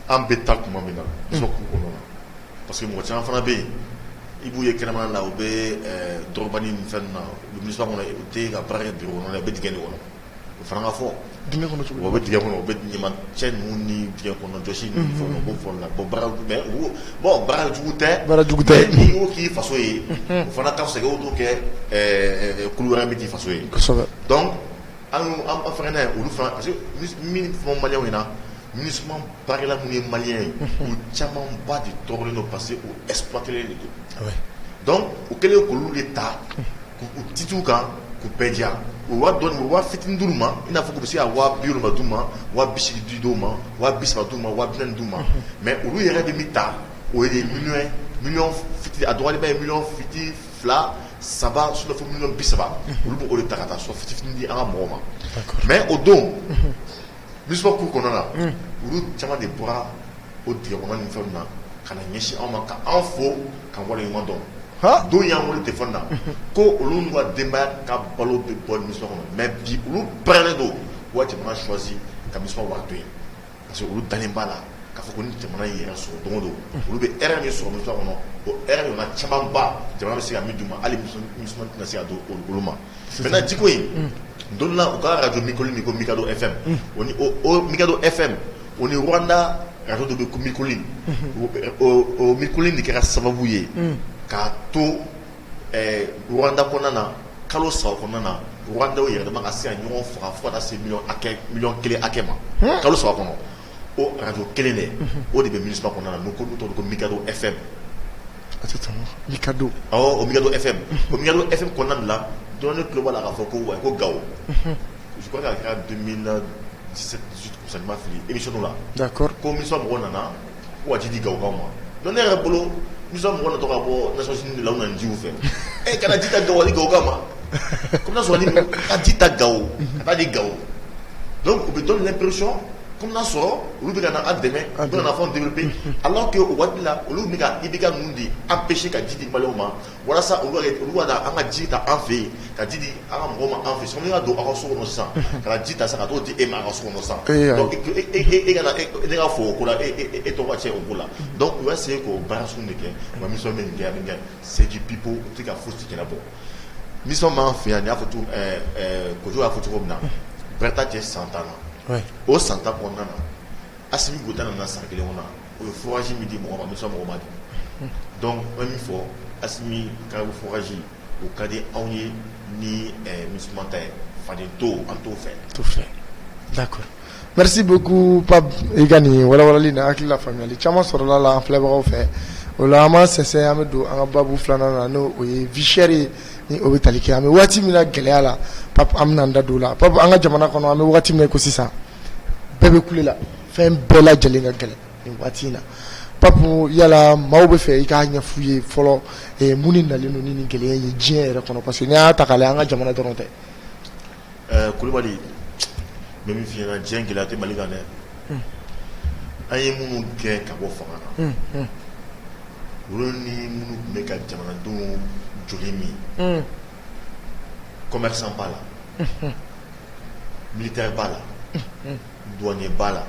an bɛ taa tuma min na MINUSMA cour kɔnɔna parce que mɔgɔ caman fana bɛ yen i b'u ye kɛnɛmana la u bɛ dulɔkiba ni fɛn ninnu na u bɛ MINUSMA kɔnɔ u tɛ yen ka baara kɛ bureau kɔnɔ dɛ u bɛ dingɛ de kɔnɔ o fana ka fɔ, dingɛ kɔnɔ cogo di, u bɛ dingɛ kɔnɔ u bɛ ɲamancɛ ninnu ni dingɛ kɔnɔjɔsi ninnu ni fɛnw na u b'o fɔ olu la bon baara mais u b'o bon baara jugu tɛ, baara jugu tɛ, mais n'i y'o k'i faso ye o fana ka fisa i k'o kɛ kulu wɛrɛ min t'i faso ye, kosɛbɛ, donc An an fana ye olu fana parce que min fɔ maliyɛnw ɲɛna MINUSMA baarakɛla minnu ye maliyɛn ye u camanba de tɔɔrɔlen don parce que u exploitelen de don donc u kɛlen k'olu de ta k'u tituw kan k'u bɛɛ diya u waa dɔn u waa fit duuru ma i n'a fɔ u bɛ se ka waa bi wolonwula d'u ma waa bi seegin di dɔw ma waa bi saba d'u ma waa bi naani d'u ma mais olu yɛrɛ de bɛ min ta o ye miliyɔn fitinin a dɔgɔyalenba ye miliyɔn fitinin fila saba fo bi saba olu b'o de ta ka taa so fitinin di an ka mɔgɔw ma mais o don MINUSMA cour kɔnɔna olu caman de bɔra o dingɛ kɔnɔ ni fɛn na ka na ɲɛsin anw ma ka anw fo k'an waleɲuman dɔn dɔw y'an weele téléphone na ko olu n'u ka denbaya ka balo bɛ bɔ MINUSMA kɔnɔ mais bi olu pɛrɛlen don u ka jamana choisir ka MINUSMA wari to yen parce que olu dalen b'a la k'a fɔ ko ni jamana in y'a yɛrɛ sɔrɔ don o don olu bɛ hɛrɛ min sɔrɔ MINUSMA kɔnɔ o hɛrɛ ɲɔgɔnna camanba jamana bɛ se ka min d'u ma hali MINUSMA tɛna se k'o di olu ma maintenant jiko in don dɔ la u ka radio Mille Collines min ko Mikado FM o ni o Mikado FM o ni Rwanda radio dɔ bɛ yen ko Mille Collines o Mille Collines de kɛra sababu ye k'a to Wda kɔnɔna na kalo sa kɔnɔna na wda yɛrɛ ka se ɲɔgɔn faga fo se kelen akɛ ma kalo sa kɔnɔ o araj kelen de o de bɛ misi kɔnɔna don ko don ko mika e fɛ ka don o mi e fɛ ko mi e fɛ kɔnɔna la dɔnni tuloba la k'a fɔ ko wa ko ga kɛra fili i bɛ la ko mɔgɔ nana Waati di gakaw ma dɔn ne yɛrɛ bolo mi mɔgɔ tɔgɔ ka bɔsɔn la na ji fɛ e kana ji ka ga gakaw ma ko sɔrɔ ka ji ta gawo ka di gawo don u bɛ don la psi ko sɔrɔ olu bɛ ka dɛmɛ a bɛ fɔ bi ala tɛ waati la olu bɛ i bɛ ka mun di an bɛ se ka ji di balo ma Walasa an ka ji ta an fɛ ka ji an ka mɔgɔ ma an fɛ y'a don aw ka so kɔnɔ san ka ji ta sa ka' di e ma ka so sa e ka fɔ o e tɔgɔ cɛ o la u bɛ se k'o ba sun de kɛ nka mi min kɛ min kɛ seji bi bɔ tɛ ka foyi ci bɔ mi b'an fɛ yan y'a fɔ kojugu y'a fɔ cogo min na bɛɛta cɛ san tan na o san tan kɔnɔna na Assimi Goïta nana san kelen kɔnɔ o ye forage min di mɔgɔ ma MINUSMA mɔgɔ ma di donc n bɛ min fɔ Assimi ka forage o ka di anw ye ni MINUSMA ta ye fa to an t'o fɛ d'accord merci beaucoup Pape i ka nin walawalali na hakili la faamuyali caman sɔrɔla la an filɛbagaw fɛ o la an b'an sɛnsɛn an bɛ don an ka baabu filanan na n'o ye vie chère ni o bɛ tali kɛ an bɛ waati min na gɛlɛya la Pape an bɛna an da don o la Pape an ka jamana kɔnɔ an bɛ waati min ko sisan bɛɛ bɛ kule la fɛn bɛɛ lajɛlen ka gɛlɛn nin waati in na Pape yala maaw bɛ fɛ i k'a ɲɛfu ye fɔlɔ eh, mun de nalen don ni nin gɛlɛya ye diɲɛ yɛrɛ kɔnɔ parce que n'i y'a ta k'a lajɛ an ka jamana dɔrɔn tɛ eh, kulubali n bɛ min f'i ɲɛna diɲɛ gɛlɛya tɛ mali kan dɛ hmm. an ye minnu gɛn ka bɔ fanga na hmm, hmm. olu ni minnu tun bɛ ka jamanadenw joli min commerçant b'a la unhun militaire b'a la unhun douanier b'a la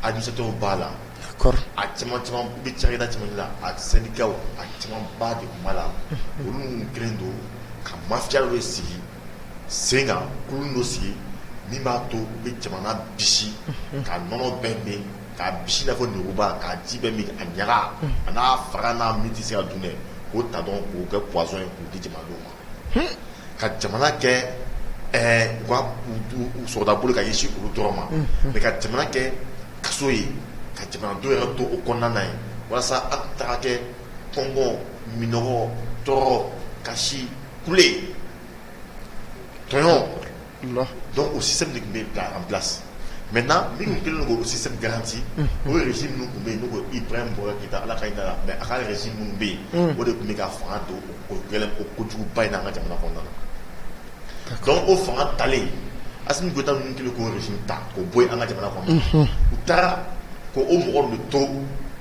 administrateur b'a la d'accord a caman caman u bɛ cakɛda caman de la a syndicat w a camanba de tun b'a la unhun olu minnu kɛlen don ka mafia dɔ de sigi sen kan kulu dɔ sigi min b'a to u bɛ jamana bisi unhun ka nɔnɔ bɛɛ min k'a bisi i n'a fɔ lemuruba k'a ji bɛɛ min a ɲaga a n'a fara n'a min tɛ se ka dun dɛ k'o ta dɔrɔn k'o kɛ poison ye k'o di jamanadenw ma ka jamana kɛ u ka sɔrɔda boli ka ɲɛsin olu dɔrɔn ma mais ka jamana kɛ kaso ye ka jamanadenw yɛrɛ to o kɔnɔna na yen walasa an ka taga kɛ kɔngɔ minɔgɔ tɔɔrɔ kasi kule tɔɲɔn Dɔn o sisan de tun bɛ bila an bila mɛ na ni kelen don sisan garanti o yɛrɛ minnu tun bɛ yen n i ba in bɔra da ala ka da la mɛ a ka yɛrɛ minnu bɛ yen o de tun bɛ ka fanga don o gɛlɛn ko kojuguba in' ka jamana kɔnɔna na ka o fanga talen a tun bɛ taa minnu kelen k' ta ko bɔ an ka jamana kɔnɔ u taara ko o mɔgɔ bɛ to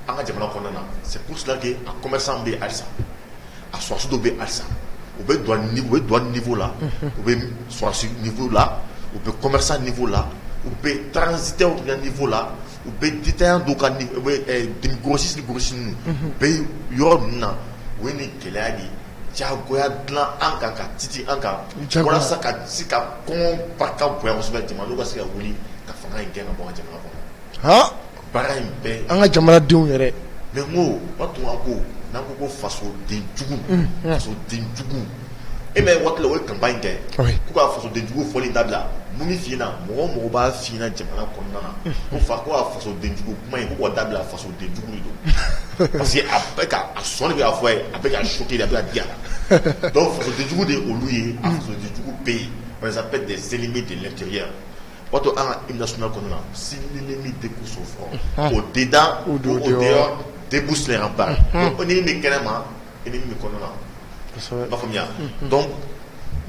an ka jamana kɔnɔna na se kusilake a kɔmɛ bɛ alisa a sɔrɔdasi dɔw bɛ yen halisa u bɛ douane niveau la, unhun, u bɛ sɔrɔdasi niveau la, u bɛ commerçant niveau la, u bɛ transitaires ka niveau la, u bɛ détaillant dɔw ka grossiste ni grossiste ninnu, unhun, u bɛ yɔrɔ ninnu na u ye nin gɛlɛya de diyagoya dilan an kan ka titi an kan walasa ka se ka kɔngɔ barika bonya kosɛbɛ jamanadenw ka se ka wuli ka fanga in gɛn ka bɔ an ka jamana kɔnɔ, han An ka jamanadenw yɛrɛ mais ko u tun ko n'an ko ko faso denjugu faso denjugu e mɛ waati la o ye campagne kɛ k'u ka faso denjugu fɔli dabila min b'a f'i ɲɛna mɔgɔ o mɔgɔ b'a f'i ɲɛna jamana kɔnɔna na ko fa ko faso denjugu kuma in k'o dabila faso denjugu don parce que a sɔnni bɛ ka fɔ a ye a bɛ ka choquer a bɛ ka digi a la faso denjugu de olu ye faso denjugu bɛ yen on les appelle des ennemis de l'intérieur O to an ka i nas kɔnɔna si ni ni min de so fɔ o de da o de de bu sina ba ko ni min kɛnɛ ma i min kɔnɔna faamuya dɔn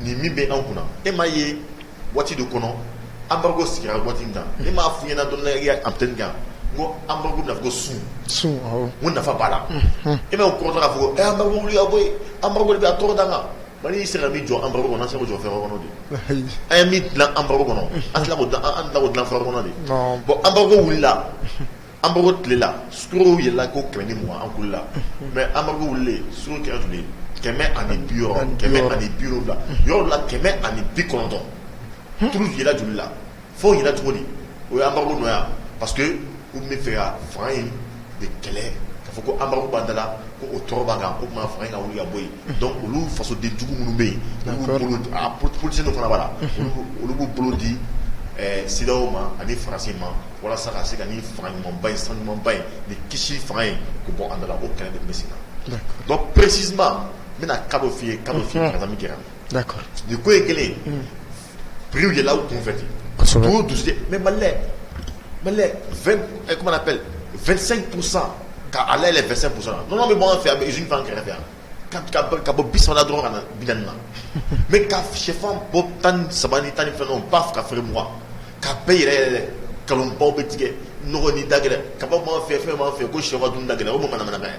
nin min bɛ an kunna e ma ye waati de kɔnɔ an ko sigira waati da e m'a f ɲɛna dɔn an tɛ kan ko an na ko sun sun ko nafa' la e bɛ kɔrɔ fɔ an wuli bɔ an bɛ a tɔgɔ da kan Mali y'i se ka min jɔ embargo kɔnɔ an tɛ se k'o jɔ fɛn wɛrɛ kɔnɔ bi, ayi, an ye min dilan embargo kɔnɔ an tɛ se ka o dilan an tɛna o dilan fɛn wɛrɛ kɔnɔ bi, non, bon embargo wulila embargo tile la sukaro yɛlɛnna ko kɛmɛ ni mugan an kulela mais embargo wulilen sukaro kɛra joli ye kɛmɛ ani bi wɔɔrɔ kɛmɛ ani bi wolonwula yɔrɔ dɔ la kɛmɛ ani bi kɔnɔntɔn prix yɛlɛnna joli la Fo yɛlɛnna cogo di o ye embargo nɔ ye wa parce que u b'a fɛ ka fanga in de kɛlɛ k'a fɔ ko embargo b'an da la ko o tɔɔrɔ b'an kan k'o kama fanga in ka wuli ka bɔ yen donc olu fasodenjugu minnu bɛ yen politicien dɔ fana b'a la olu b'u bolo di CEDEAO ma ani Faransi ma walasa ka se ka nin fanga ɲumanba in san ɲumanba in nin kisi fanga in k'o bɔ an da la o kɛlɛ de tun bɛ sen na donc précisément n bɛna cas dɔ f'i ye cas min kɛra Da ni ko ye kelen pere de la tunfɛ to dusu mɛ malilɛ malilɛ fɛnsɛn kurusa ka ala yɛrɛ fɛsɛn kurusa nɔnɔ bɛ bamanan fɛ a bɛ zfan kɛrɛfɛ yan ka bɔ bisa dɔrɔn ka na bi na mɛ ka shɛfan bɔ tan ni saba ni tan ni fɛn ba fo ka feere mugan ka bɛɛ yɛrɛ yɛrɛ kalanbaw bɛ tigɛ ni da gɛlɛn ka fɛ fɛn b' fɛ ko shɛfa dun da gɛlɛn o ma manamana ye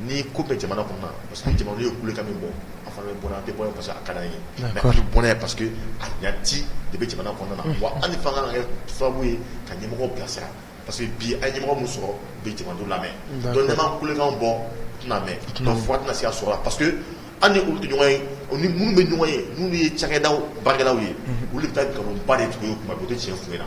Nin ko bɛ jamana kɔnɔna parce que jamana ye kulekan min bɔ an fana bɛ bɔ an tɛ bɔ parce que a ka d'an ye mais an bɛ bɔ n'a ye parce que a ɲati de bɛ jamana kɔnɔna na wa an ni fanga ka kɛ sababu ye ka ɲɛmɔgɔ bilasira parce que bi an ye ɲɛmɔgɔ min sɔrɔ bɛ jamanadenw lamɛn donc n'an ma kulekan bɔ tɛna mɛn fo a tɛna se ka sɔrɔ parce que an ni olu tɛ ɲɔgɔn ye u ni minnu bɛ ɲɔgɔn ye n'olu ye cakɛdaw baarakɛlaw ye olu de bɛ taa nkalonba de tigɛ u ye u tɛ tiɲɛ f'u ɲɛna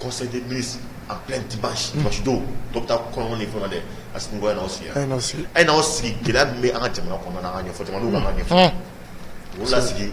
conseil des ministres en plein dimanche don dɔw bɛ taa kɔɲɔ ni fɛnw na dɛ Assimi n'aw sigi a ye n'aw sigi gɛlɛya min bɛ an ka jamana kɔnɔna an k'a ɲɛfɔ jama ka ɲɛ o la sigi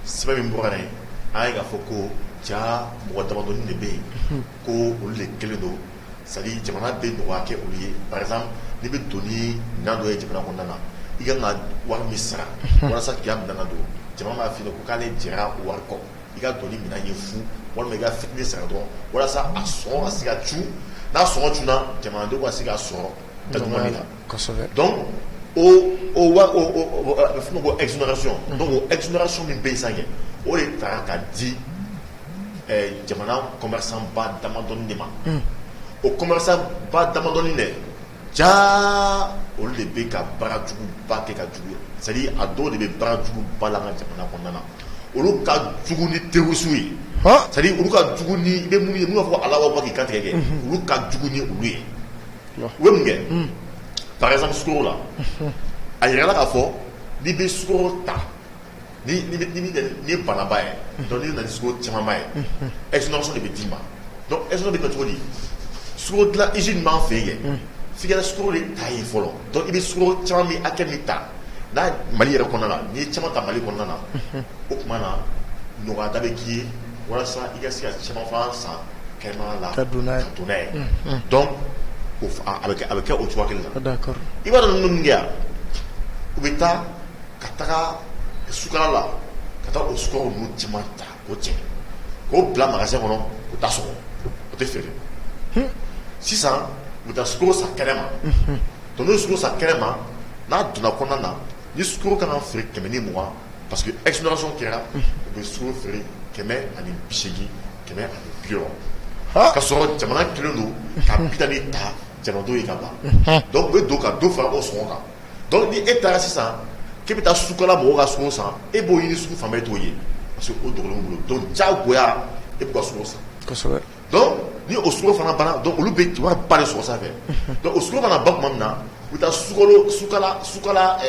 sɛbɛn min bɔra yen an ye k'a fɔ ko jaa mɔgɔ damadɔnin de bɛ yen ko olu de kelen don c'est-à-dire jamana bɛ nɔgɔya kɛ olu ye par exemple n'i bɛ don ni minɛn dɔ ye jamana kɔnɔna na i ka kan ka wari min sara walasa k'i ka minɛn don jamana b'a f'i ɲɛna ko k'ale jɛra wari kɔ i ka dɔn ni minɛn ye fu walima i ka fitiri san dɔrɔn walasa a sɔn ka se ka c n'a sɔn c na jamanadenw ka se ka sɔrɔ da dɔn a bɛ f ko ej ejso min bɛ san ye o de taara ka di jamana kɔmsanba damadɔ de ma o kɔmsanba damadɔi dɛ jaa olu de bɛ ka baarajuguba kɛ ka juguya c'est à dire a dɔw de bɛ baarajuguba la an ka jamana kɔnɔna na, olu ka jugu ni terroriste ye, han, c'est à dire olu ka jugu ni i bɛ minnu ye n'u b'a fɔ ko Alahu akibaru k'i kantigɛ kɛ, unhun, olu ka jugu ni olu ye, la, u bɛ mun kɛ, un, par exemple sukaro la, unhun, a yirala k'a fɔ n'i bɛ sukaro ta ye banaba ye donc n'i nana ni sukaro camanba ye exonération de bɛ d'i ma exonération bɛ kɛ cogo di sukaro dilan usine b'an fɛ yen f'i ka sukaro de ta yen fɔlɔ i bɛ sukaro caman min hakɛ min ta n'a mali yɛrɛ kɔnɔna la n'i ye caman ta mali kɔnɔna na o tuma na nɔgɔya da bɛ k'i ye walasa i ka se ka caman fana san kɛnɛma na ka don n'a ye donc a bɛ kɛ o cogo la i b'a dɔn ninnu min kɛ yan u bɛ taa ka taga sukala la ka taa o sukaro ninnu caman ta k'o cɛ k'o bila magasin kɔnɔ u t'a sɔgɔ o tɛ feere sisan u bɛ taa sukaro san kɛnɛma donc n'u sukaro san kɛnɛma n'a donna kɔnɔna na ni sukaro kan ka feere kɛmɛ ni mugan parce que exonération kɛra u bɛ sukaro feere kɛmɛ ani bi seegin kɛmɛ ani bi wɔɔrɔ ka sɔrɔ jamana kɛlen don ka bi naani ta jamanadenw ye ka ban donc u bɛ don ka dɔ fara o sɔngɔ kan donc ni e taara sisan k'i bɛ taa sukala mɔgɔw ka sukaro san e b'o ɲini sugu fan bɛɛ t'o ye parce que o dogolen bolo diyagoya e bɛ sukaro san ni o sukaro fana banna olu bɛ wariba de sɔrɔ sanfɛ o sukaro fana ban tuma min na u bɛ taa sukala sukaro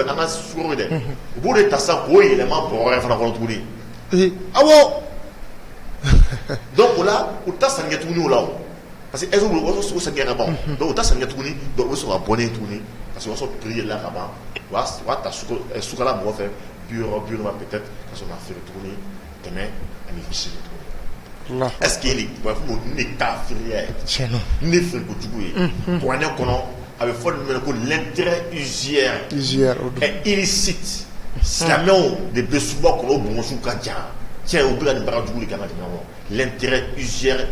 an ka sukaro ye dɛ u b'o de ta sisan k'o yɛlɛma bɔrɛ wɛrɛ fana kɔnɔ tuguni awɔ donc o la u t'a sanni kɛ tuguni o la Parce que olu sa gɛn ka ban dɔw u ta san tuguni dɔw bɛ sɔrɔ ka bɔnen tuguni ka sɔrɔ sɔrɔ pla ka ban sukala mɔgɔ fɛ bi bi ka feere tuguni kɛmɛ ani ɛsseke b'a fɔ ne taa feere ne kojugu ye kuran ne kɔnɔ a bɛ fɔ minɛ ko lɛnɛrɛzsi silamɛw de bɛ suba kɔnɔ bonsiw ka ca cɛ u bila nin bara jugu ka na lɛntigɛ uzɛrɛ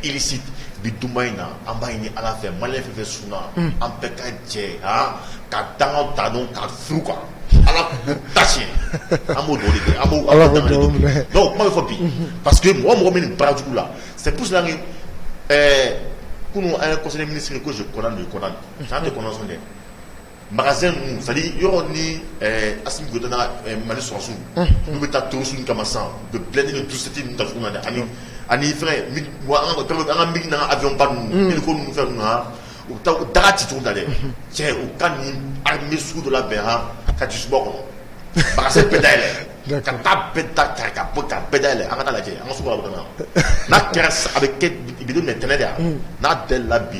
irisi bi dumanba in na an b'a ɲini ala fɛ mali fɛ sun an bɛɛ ka jɛ ka dan ta ka su kan ala ta an b'o b'a fɔ bi pa que mɔgɔ mɔgɔ min barajugu la se kunun an ye kɔ mini sigi ko kɔnɔna kɔnɔ san de kɔnɔ dɛ Makan yɔrɔ ni asita mali sɔrɔsiw n bɛ taa tosi kama san u bɛ bila ni dusute da na dɛ ani ani an ka mi na a dɔn ninnu ko ninnu fɛn na u taa u daga citu da dɛ cɛ u ka nin ni sugu dɔ la bɛn h ka dusu suba kɔnɔ ba bɛɛ da yɛlɛ ka taa bɛɛ da ta ka bɔ ka bɛɛ da yɛlɛ an ka lajɛ an ka n'a kɛra a bɛ tɛnɛ de yan n'a bɛɛ la bi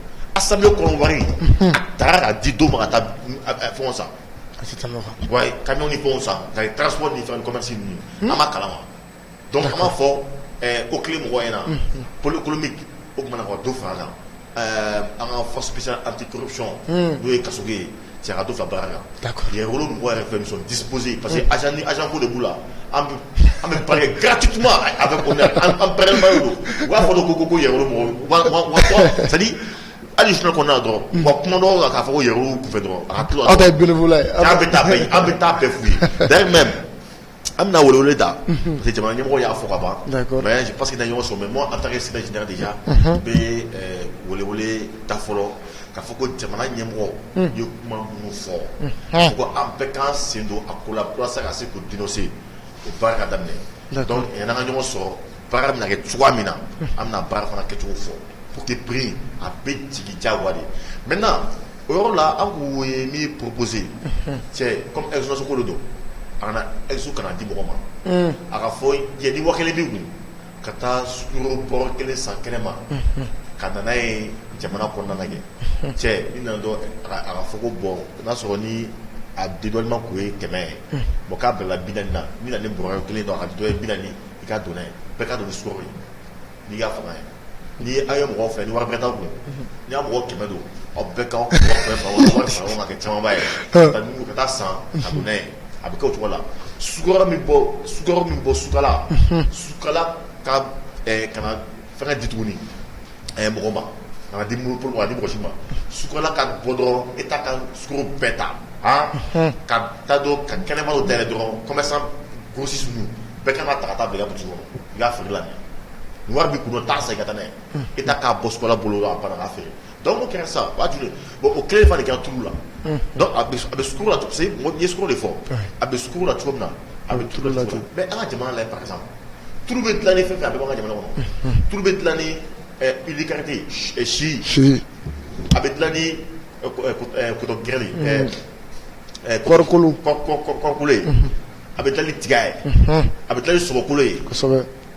Asa kɔnɔ wari a taara ka di don ma ka fɛn sa ka ni fɛn sa ka taa so ni fɛn kɔmasi a ma kala dɔnku kama fɔ ko ki mɔgɔ in na kolokolo o tumaumana ka don fara la an ka fasa an tɛ tosi n'o ye ka ye Sɛdu ka baara la da ye wolo mɔgɔ yɛrɛ fɛn sɔn dipzse parce que azni azko de b' la an bɛ ba gati tuma a bɛ an bɛɛrɛba don u b'a fɔ ko ko yɛrɛ sadi hali su kɔnɔna dɔrɔn wa kuma dɔw la k'a fɔ yɛrɛ fɛ dɔrɔn a bɛ taa an bɛ taa bɛɛ f ye da An bɛna wolo ta parce jama ɲɛmɔgɔ y'a fɔ ka ban pa que ɲɔgɔn sɔrɔ mɛ a taara sina jina de bɛ wele da fɔlɔ ka fɔ ko jamana ɲɛmɔgɔ ye kuma minnu fɔ ko an bɛ kan sen don a ko la walasa ka se ko dse o ba ka daminɛ ka ɲɔgɔn sɔrɔ Baara bɛna kɛ cogoya min na an bɛna baara fana kɛcogo fɔ pour que prix in a bɛ jigin diyagoya de maintenant o yɔrɔ la an tun ye min proposer cɛ comme exo ko de don a kana exo kana di mɔgɔ ma, unhun, a ka fɔ ni waa kelen b'i kun ka taa sukaro bɔrɔ kelen san kɛnɛma ka na n'a ye jamana kɔnɔna na yɛ cɛ i nana dɔrɔn a ka fɔ ko bon n'a sɔrɔ ni a dédouanement tun ye kɛmɛ ye bon k'a bilala bi naani na n bɛna ni bɔrɔ kelen ye a ka dɔ ye bi naani I ka don n'a ye bɛɛ ka don ni sukaro ye n'i y'a fanga ye ni aw ye mɔgɔ fɛn ni wari bɛrɛ t'a kun n'i y'a mɔgɔ kɛmɛ don aw bɛɛ ka kɛ camanba ye ka taa san ka don n'a ye a bɛ kɛ o cogo la sukaro min bɔ Sukala Sukala ka kana Fɛn ka di tuguni ɛɛ mɔgɔ ma a di muru a di mɔgɔsi ma sukola ka bɔ dɔrɔn e ta ka sogo bɛɛ ta ka ta don ka kɛnɛma da dɔrɔn kɔmɛ sa gosisi sun bɛɛ ka ta taa bila dusu i y'a fili la wari bɛ kun taa sa i ka taa ne e k'a bɔla bolo a fɛ Dɔnku kɛra sa ba bon o kelen fa de ka tu la a bɛ de fɔ a bɛ la cogo min na a bɛ tu la an ka jamana la pasa tu bɛ dilan ni fɛn a bɛ ka jamana kɔnɔ tu bɛ dilan ni kari si si a bɛ dilan ni gɛrɛ kɔrɔkolokolo a bɛ taa ni tiga ye a bɛ taa ni sogokolo ye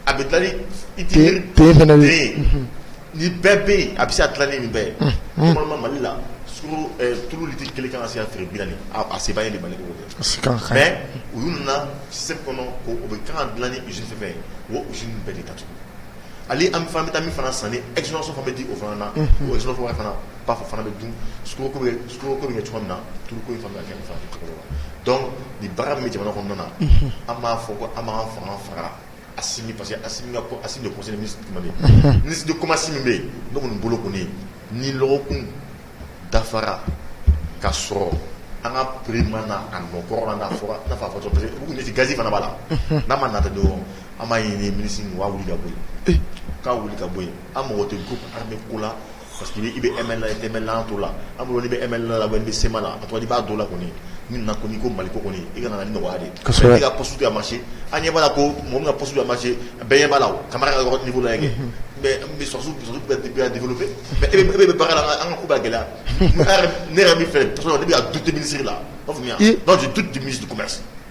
A bɛ dilan ni bɛɛ bɛ yen a bɛ se ka dilan ni nin bɛɛ ye normalement Mali la tulu litiri kelen ka se ka feere bi naani a se b'a ye Mali mais u y'u na système kɔnɔ u bɛ k'a dilan ni usine fɛn ye o usine bɛɛ de datugu ale an bɛ taa min fana san ni exo bɛ di o fana na o exo fana ba fɔ fana bɛ dun sukaro ko bɛ kɛ cogo min na tulu kɛ ni baara bɛ jamana kɔnɔna na an b'a fɔ ko an fanga fara Asimi parce que Asimi ka ko Asimi de ye conseiller ministre caman ye unhun ministre de commerce min bɛ yen ne kɔni bolo kɔni ni lɔgɔkun dafara ka sɔrɔ an ka prix ma na a nɔ kɔrɔ la n'a fɔra i n'a fɔ a fɔ cogo parce que u kun bɛ ten gaz fana b'a la unhun n'a ma nata dɔrɔn an b'a ɲini ministre in u k'a wili ka bɔ yen e u k'a wili ka bɔ yen an mago tɛ groupe armé ko la Parce que i bɛ ML la i tɛ ML la an t'o la an bolo n'i bɛ ML la ou bien i bɛ CMA la a tɔgɔ ye di i b'a dɔn o la kɔni ni nin na ko n'i ko Maliko kɔni i ka na na ni nɔgɔya de ye kosɛbɛ mais e ka poste tɛ ka marché an ɲɛ b'a la ko mɔgɔ min ka poste tɛ ka marché bɛɛ ɲɛ b'a la o Camara ka yɔrɔ niveau lajɛ kɛ mais an bɛ sɔrɔdasiw sɔrɔdasiw bɛ ka bɛ ka développer mais e bɛ e bɛ baara la an ka an ka ko bɛ ka gɛlɛya ne yɛrɛ ne yɛrɛ min filɛ parce que ne bɛ ka douter ministre la i y'a faamuya donc je doute du ministre du commerce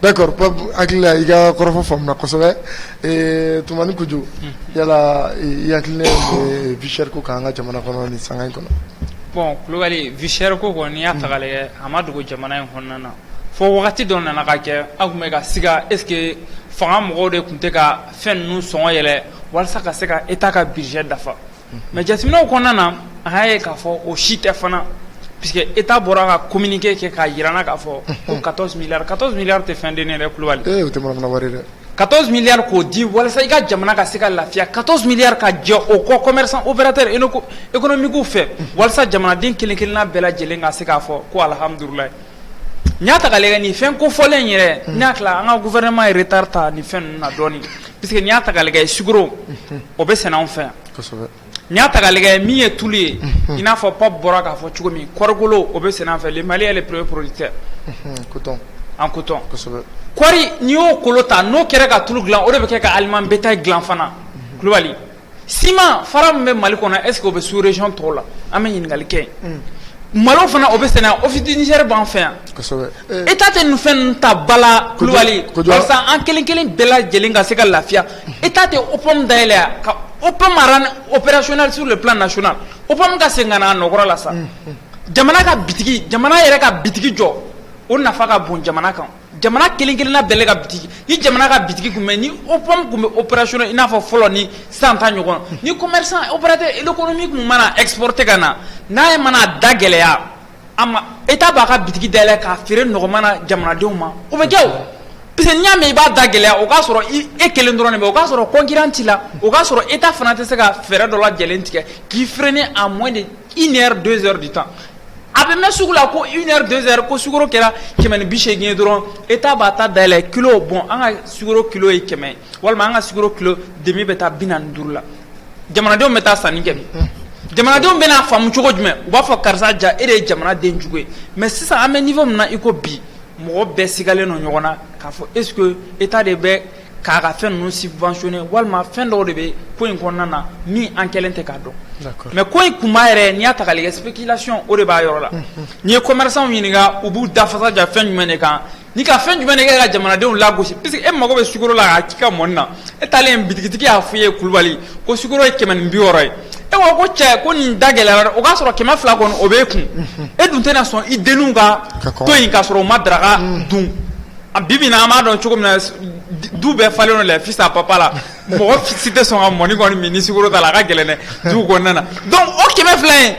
Pape hakili la i ka kɔrɔfɔ faamuna kosɛbɛ Tumani Kojo yala i hakilina ye vie chère ko k'an ka jamana kɔnɔ nin sanga in kɔnɔ bon Kulubali vie chère ko kɔni y'a ta ka lajɛ a ma dogo jamana in kɔnɔna na fo wagati dɔ nana ka kɛ an tun bɛ ka siga est-ce que fanga mɔgɔw de tun tɛ ka fɛn ninnu sɔngɔ yɛlɛ walasa ka se ka État ka budget dafa mɛ jateminɛw kɔnɔna na a y'a ye k'a fɔ o si tɛ fana p que e t'a bɔra ka kominike kɛ k'a jira k'a fɔ ko ka mi ka mi tɛ fɛn den dɛ kulubali dɛ ka mi k'o di walasa i ka jamana ka se ka lafiya ka mi ka jɛ o kɔ kɔm o bɛ tɛ e e kɔnɔ migu fɛ walasa jamanaden kelen-kelen' bɛɛ lajɛlen ka se k'a fɔ ko alihamududula N'i y'a ta ka lajɛ nin fɛn kofɔlen in yɛrɛ, unhun, n'i y'a tila an ka gouvernement ye retard ta nin fɛn ninnu na dɔɔnin puisque n'i y'a ta ka lajɛ sukaro, unhun, o bɛ sɛnɛ anw fɛ yan, kosɛbɛ, n'i y'a ta ka lajɛ min ye tulu ye, unhun, i n'a fɔ Pape bɔra k'a fɔ cogo min kɔɔrikolo o bɛ sɛnɛ an fɛ le Mali est le premier producteur unhun, en coton, en coton, kosɛbɛ, kɔɔri n'i y'o kolo ta n'o kɛra ka tulu dilan o de bɛ kɛ ka aliment bétail dilan fana, unhun, Kulubali Sima fara min bɛ mali kɔnɔ esew bɛ suurrecy tɔw la an bɛ ɲininkakali kɛ malo fana o bɛ sen o fitiniri b'an fɛ yan e ta tɛ nin fɛn ta bala kulubali an kelen kelen bɛɛ lajɛlen ka se ka lafiya e ta tɛ op dayɛlɛn ka op oɛracsu de bila nas op ka sen ka a nɔ la sa jamana ka jamana yɛrɛ ka bi jɔ o nafa ka bon jamana kan jamana kelen-kelenna bɛɛ lajɛlen ka bitigi ni jamana ka bitigi tun bɛ ni OPAM tun bɛ opérationnel i n'a fɔ fɔlɔ ni sisan ta ɲɔgɔn ni commerçant opérateur économique min mana exporter ka na n'a ye mana a da gɛlɛya a ma État b'a ka bitigi dayɛlɛ k'a feere nɔgɔman na jamanadenw ma o bɛ kɛ o parce que n'i y'a mɛn i b'a da gɛlɛya o k'a sɔrɔ i e kelen dɔrɔn de bɛ o k'a sɔrɔ concurrent t'i la o k'a sɔrɔ État fana tɛ se ka fɛɛrɛ dɔ lajɛlen tigɛ k'i freiner à moins de une heure deux heures du temps A bɛ mɛn sugu la ko une heure deux heures ko sukaro kɛra kɛmɛ ni bi seegin ye dɔrɔn État b'a ta dayɛlɛ kilo bon an ka sukaro kilo ye kɛmɛ walima an ka sukaro kilo demi bɛ taa bi naani ni duuru la jamanadenw bɛ taa sanni kɛ min jamanadenw bɛn'a faamu cogo jumɛn u b'a fɔ karisa jaa e de ye jamanaden jugu ye mais sisan an bɛ niveau min na i ko bi mɔgɔ bɛɛ sigalen don ɲɔgɔn na k'a fɔ est-ce que État de bɛ k'a ka fɛn ninnu subventionné walima fɛn dɔw de bɛ ko in kɔnɔna na min an kɛlen tɛ k'a dɔn, d'accord, mais ko in kunba yɛrɛ n'i y'a ta k'a lajɛ spéculation o de b'a yɔrɔ la, unhun, n'i ye commerçants ɲininka u b'u da fasa da fɛn jumɛn de kan ni ka fɛn jumɛn de kɛ ka jamanadenw lagosi puisque e mago bɛ sukaro la k'a k'i ka mɔni na e taalen bitigitigi y'a f'i ye Kulubali ko sukaro ye kɛmɛ ni bi wɔɔrɔ ye e ko ko cɛ ko nin da gɛlɛyara dɛ o k'a sɔrɔ kɛmɛ fila kɔni o b'e kun e dun tɛna sɔn i denninw ka to yen k'a sɔrɔ u ma daraka dun A bi bi in na an b'a dɔn cogo min na du bɛɛ falen les fils à papa la mɔgɔ si tɛ sɔn ka mɔni kɔni min ni sukaro t'a la a ka gɛlɛn dɛ du kɔnɔna na donc o kɛmɛ fila in